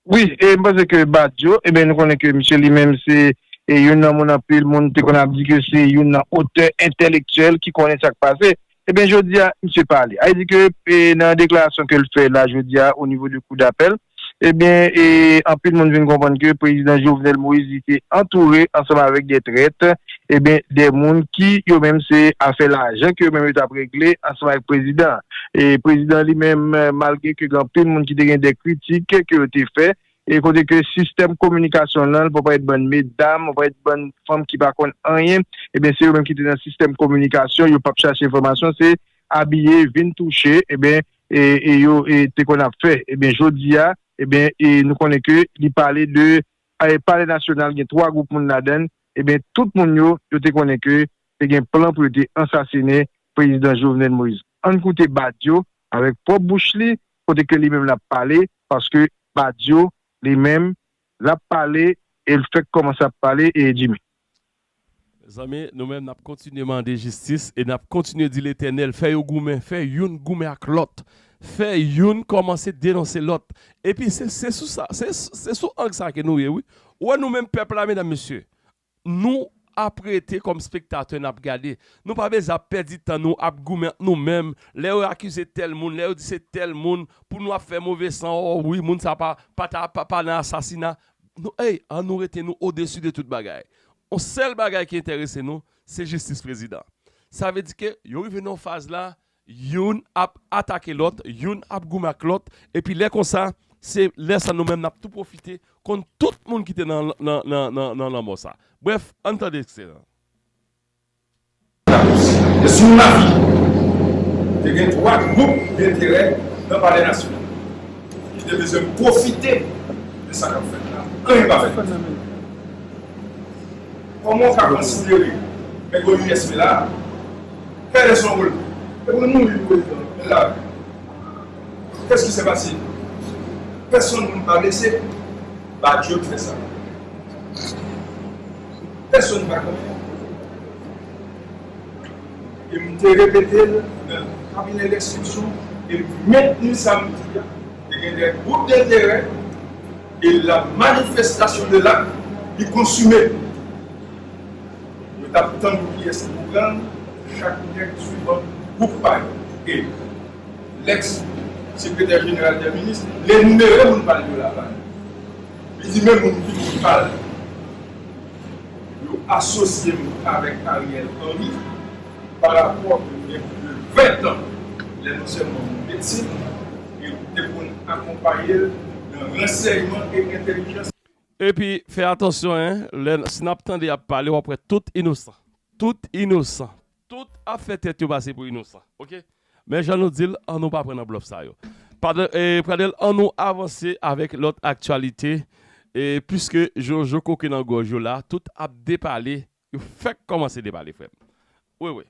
Wi e m panse ke Badio ebyen nou konnen ke misye li menm se youn nan moun anpil moun te konn ap di ke se youn nan otè entelektyèl ki konnen sa k pase ebyen jodi a misye pale a li di ke nan deklarasyon ke l fè la jodi a onivo de kou dapèl Ebyen e anpil moun vin konprann ke prezidan Jovenel Moïse li te antoure ansanm avèk de trèt, ebyen de moun ki yo menm se afè lajan ke yo menm yo tap regle ansanm avèk prezidan an. E prezidan li menm malgre ke gen anpil moun ki te gen de kritik ke yo te fè e kote ke sistèm kominikasyon lan pou parèt bann medam, pou parèt bann fanm ki pa konn anyen, ebyen se yo menm ki te nan sistèm kominikasyon yo pap chache enfòmasyon se abiye vin touche, ebyen e yo te konn ap fè ebyen jodi a ebyen e nou konnen ke li pale de e palè nasyonal gen 3 gwoup moun ladann ebyen tout moun yo yo te konnen ke te gen plan pou yo te ansasinen prezidan Jovenel Moïse ann koute Badio avèk pwòp bouch li kote ke li menm lap pale paske Badio li menm Lap pale el fek komanse ap pale ee Jimmy. Mezanmi nou menm nap kontinye mande jistis e nap kontinye di letènèl fè yo goumen fè youn goumen ak lòt fè youn kòmanse denonse lòt epi se se sou sa se se sou ang sa ke nou ye wi ou wè nou menm pèp la medam mesye Nou ap rete kòm spektatè n ap gade. Nou pa bezwen ap pèdi tan nou ap goumen ant nou menm, lè yo akize tèl moun, lè yo di se tèl moun, pou nou ap fè move san, o wi moun sa pa pa ta pa pa nan asasina. Nou ey an nou rete nou odesi de tout bagay. On sèl bagay ki enterese nou, se jistis prezidan. Sa vle di ke yo rive nan yon faz la, Youn ap atake lòt, youn ap goumen ak lòt, epi lè konsa, se lè sa nou menm n ap tou pwofite konn tout moun ki te nan lanmò sa. Brèf, ann tande ekstrè an. Sou lavi. Te gen twa gwoup denterè nan Palè Nasyonal ki te bezwen pwofite de sa k ap fèt la. Anyen pa fèt. Kòman ou ka konsidere nèg OUSP la Pèlen son volè? Epi l mouri pou prezidan l e l la vi. Kès ki se pase? Pèsonn moun pa blese? Badio ki fè sa. Pèsonn pa konnen. E m te repete l nan kabinè lenstriksyon e m mentni sa m di a. Te gen de gwoup denterè. E la manifestation de l'acte li konsume. Yo tap tann pou kiyès ki pou pranl, chak nèg swivan gwoup pa yo. E Lex sekretè jeneral dè minis li enumere moun pal yo la ba nou. Li di men moun ki moun pal yo asosye m avèk Ariel Henry. pa rapò ke gen plis de 20 tan lè non sèlman moun piti yo te konn akonpaye l nan ransèyman e entèlijans. Epi fè atansyon hein lè si n ap tande y ap pale w ap wè tout inosan, tout inosan, tout ap fè tèt yo pase pou inosan ok men jan nou di l an nou pa pran nan blòf sa yo Pradel an nou avanse avèk lòt aktyalite e piske jojo koke nan gòj yo la tout ap depale Yo fèk kòmanse depale frèm. Wi wi.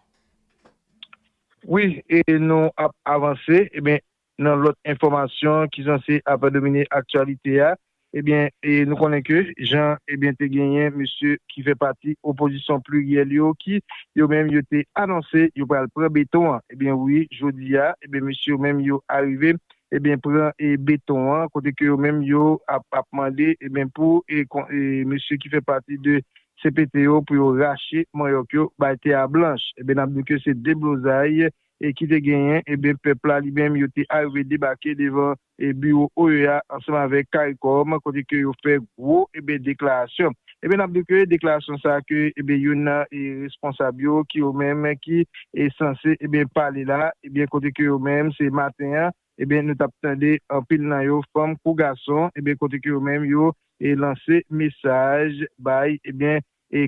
Wi e nou ap avanse ebyen nan lòt enfòmasyon ki sanse ap domine aktyalite a ebyen e nou konnen ke jan ebyen te genyen mesye ki fè pati opozisyon pliryèl yo ki yo menm yo te anonse yo pral pran beton an ebyen wi jodi a ebyen mesye yo menm yo arive ebyen pran e beton an kote ke yo menm yo ap ap mande ebyen pou e kon e mesye ki fè pati de CPT yo pou yo rache manyòk yo bay tè a blanch eben nap diw ke se deblozay ki te genyen eben pèp la li menm yo te arive debake devan biwo OEA ansanm avèk caricom kote ke yo fè gwo eben deklarasyon eben nap diw ke deklarasyon sa ke eben youn nan responsab yo ki yo menm ki sanse eben pale la eben kote ke yo menm se maten an. Ebyen nou tap tande anpil nan yo fanm kou gason ebyen kote ke yo menm yo lanse mesaj bay ebyen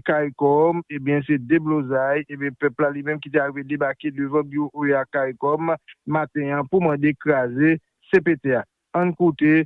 caricom ebyen se deblozay ebyen pèp la li menm ki te arive debake devan biwo oea caricom maten an pou mande kraze cpt a ann koute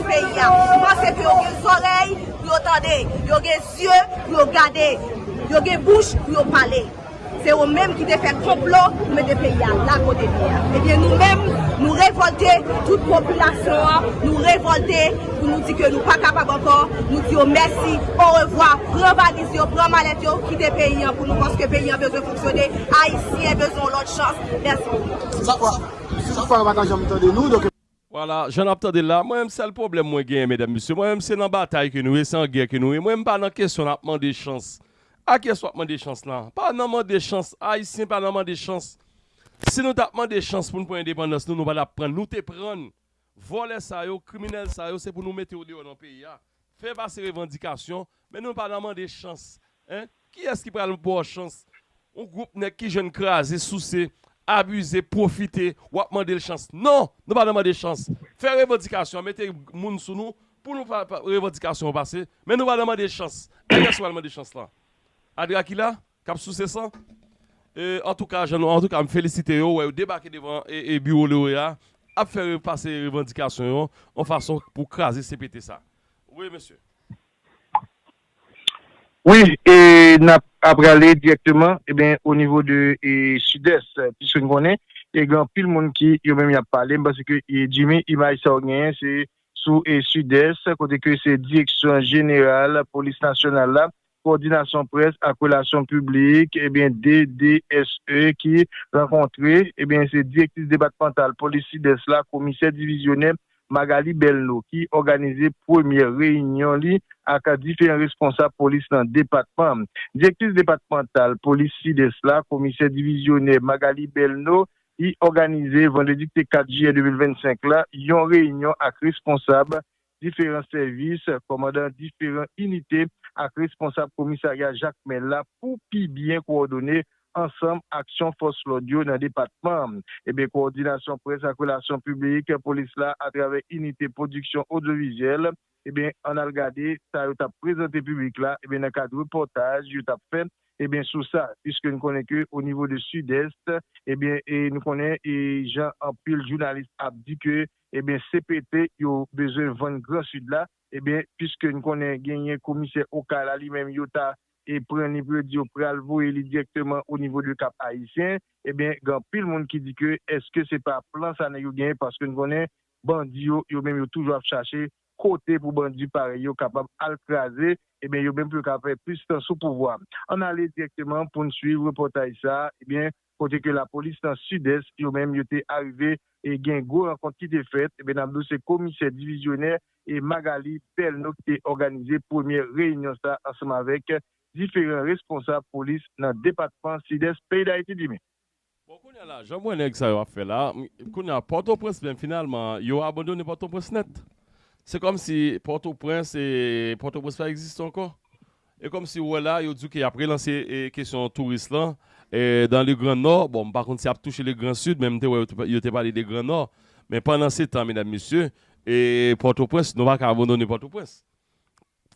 peyi a paske ke yo gen zòrèy pou yo tande yo gen zye pou yo gade yo gen bouch pou yo pale se yo menm ki te fè konplo pou mete peyi a la kote li ye a ebyen nou menm nou revòlte tout popilasyon an nou revòlte pou nou di ke nou pa kapab ankò nou di yo mèsi orevwa pran valiz yo pran malèt yo kite peyi an pou nou paske peyi an bezwen fonksyone ayisyen bezwen yon lòt chans mèsi bokou. Wala jan nap tandel la mwen menm sèl pwoblèm mwen genyen medam mesye mwen menm se nan batay ke nou ye se an gè ke nou ye mwen menm pa nan kesyon nap mande chans a kyes wap mande chans la pa nan mande chans ayisyen pa nan mande chans si nou tap mande chans poun pran endepandans nou nou pa tap prann nou te prann vòlè sa yo kriminèl sa yo se pou nou mete yo deyò nan peyi a fè pase revandikasyon Men nou pa nan mande chans hein kiyès ki pral baw chans yon group nèg ki jwenn kraze souse abize pwofite wap mandel chans non nou pa nan mande chans fè revandikasyon mete moun sou nou pou nou fè revandikasyon yo pase men nou pa nan mande chans anh kiyès ki pral mande chans lan a drakila kap souse san antouka jan nou antouka m felisite yo wè yo debake devan biwo loreya ap fè pase revandikasyon yo yon fason pou kraze CPT sa Wi mesye. Wi e nap aprale direkteman eben o nivo de e sidès piske n konnen e gen anpil moun ki yo menm yap pale m panse ke e Jimmy imaj sa ou genyen se sou e sidès kote ke se direksyon jeneral polis nasyonal la Kowòdinasyon Près ak Relasyon Piblik, DDSE, ki rankontre se Direktris Depatmantal Polis Sidès la, Komisè Divizyonè Magalie Belno, ki òganize premyè reyinyon li ak diferan responsab polis nan depatman. Direktris Depatmantal Polis Sidès la, Komisè Divizyonè Magalie Belno, li òganize vandredi ki te 4 jiyè 2025 la yon reyinyon ak responsab diferan sèvis, kòmandan diferan inite ak responsab komisarya Jakmèl la pou pi byen kowòdone ansanm aksyon fòs lòd yo nan depatman an. Ebyen kowòdinasyon près ak relasyon piblik polis la atravè inite pwodiksyon odyovizyèl ebyen ann al gade sa yo t ap prezante piblik la ebyen nan kad repòtaj yo t ap fè ebyen sou sa piske n konnen ke o nivo de Sidès ebyen nou konnen e jan anpil jounalis ap di ke Ebyen CPT yo bezwen vann gran sud la ebyen piske n konnen genyen komisè okay la li menm yo ta e pran ni pou yo di yo pral voye li direkteman o nivo de kap ayisyen ebyen gen anpil moun ki di ke eske se pa plan sa nèg yo genyen paske n konnen bandi yo yo menm yo toujou ap chache kote pou bandi parèy yo kapab al kraze ebyen yo menm pou yo ka fè plis tan sou pouvwa an ale direkteman pou n swiv repòtaj sa ebyen kote ke lapolis nan Sidès yo menm yo te arive e gen gwo rankont ki te fèt, enben nap di w se komisè divizyonè e Magalie Pelno ki te òganize premyè reyinyon sa ansanm avèk diferan responsab polis nan depatman Sidès peyi Dayiti di men. Bon kounya la jan m wè nèg sa yo ap fè la, kounya Pòtoprens menm finalman yo abandone Pòtoprens nèt. Se kòmsi Pòtoprens e Pòtoprens pa egziste ankò. E kòm si ou wè la, yo di w ke y ap relanse kesyon touris lan dan le gran nò. Bon, m pa konn si y ap touche le gran sid, men m te wè yo te pale de gran nò. Men pandan se tan, medam mesye, e Pòtoprens, nou pa ka abandone Pòtoprens.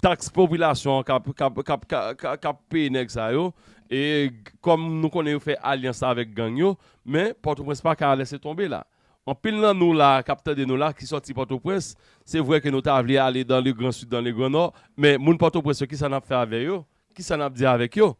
Taks popilasyon an k ap peye nèg sa yo, e kòm nou konnen yo fè alyans avèk gang yo, men Pòtoprens pa ka lèse tonbe la. Anpil nan nou la kap tande nou la ki sòti pòtoprens, se vre ke nou ta vle ale dan le gran sid dan le gran nò, men moun pòtoprens yo kisa nap fè avè yo, kisa nap di avèk yo?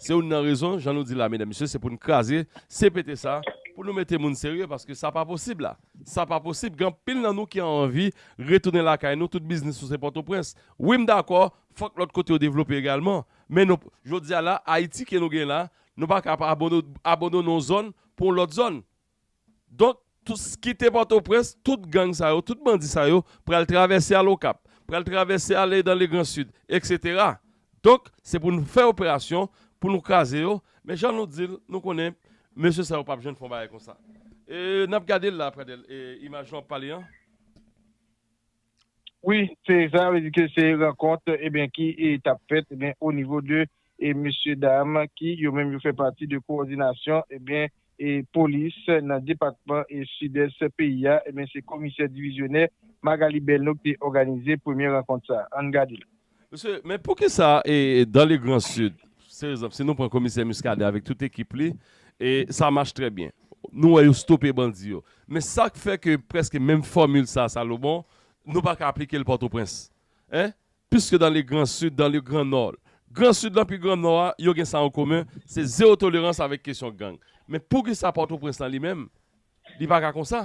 Se youn nan rezon jan nou di la medam mesye se poun kraze CPT sa pou nou mete moun serye paske sa pa posib la, sa pa posib gen anpil nan nou ki anvi retounen lakay nou tout biznis nou se pòtoprens wi m dakò fòk lòt kote yo devlope egalman men nou jodia la ayiti ke nou gen la nou paka ap abandone yon zòn pou yon lòt zòn. Donk, kite Pòtoprens, tout gang sa yo, tout bandi sa yo pral travèse al Okap, pral travèse ale dan Legran Sid, eksetera. Donk, se pou nou fè operasyon pou nou kraze yo, men jan nou di l, nou konnen mesye sa yo pa p jwenn fè yon bagay konsa. E, n ap gade l la, Pradèl, e imaj nou ap pale an. Wi se sa vle di ke se rankont ebyen ki tap fèt ebyen o nivo de e mesye dam ki yo menm yo fè pati de kowòdinasyon ebyen e polis nan depatman e sidès peyi a ebyen se komisè divizyonè Magalie Belno ki te òganize premye rankont sa an gade. Mesye, men poukisa e dan le gran sid, se ekzanp, si nou pran komisè Muscadin avèk tout ekip li, e sa mach trè byen. Nou wè yo stope bandi yo. Men sa k fè ke prèske menm fòmil sa a Salomon, nou pa ka aplike l Pòtoprens? Hein? Piske dan le gran sid, dan le gran nò, gran sid lan pi gran nò a, yo gen sa an komen, se zewo tolerans avèk kesyon gang. Men poukisa Pòtoprens lan li menm, li pa ka konsa?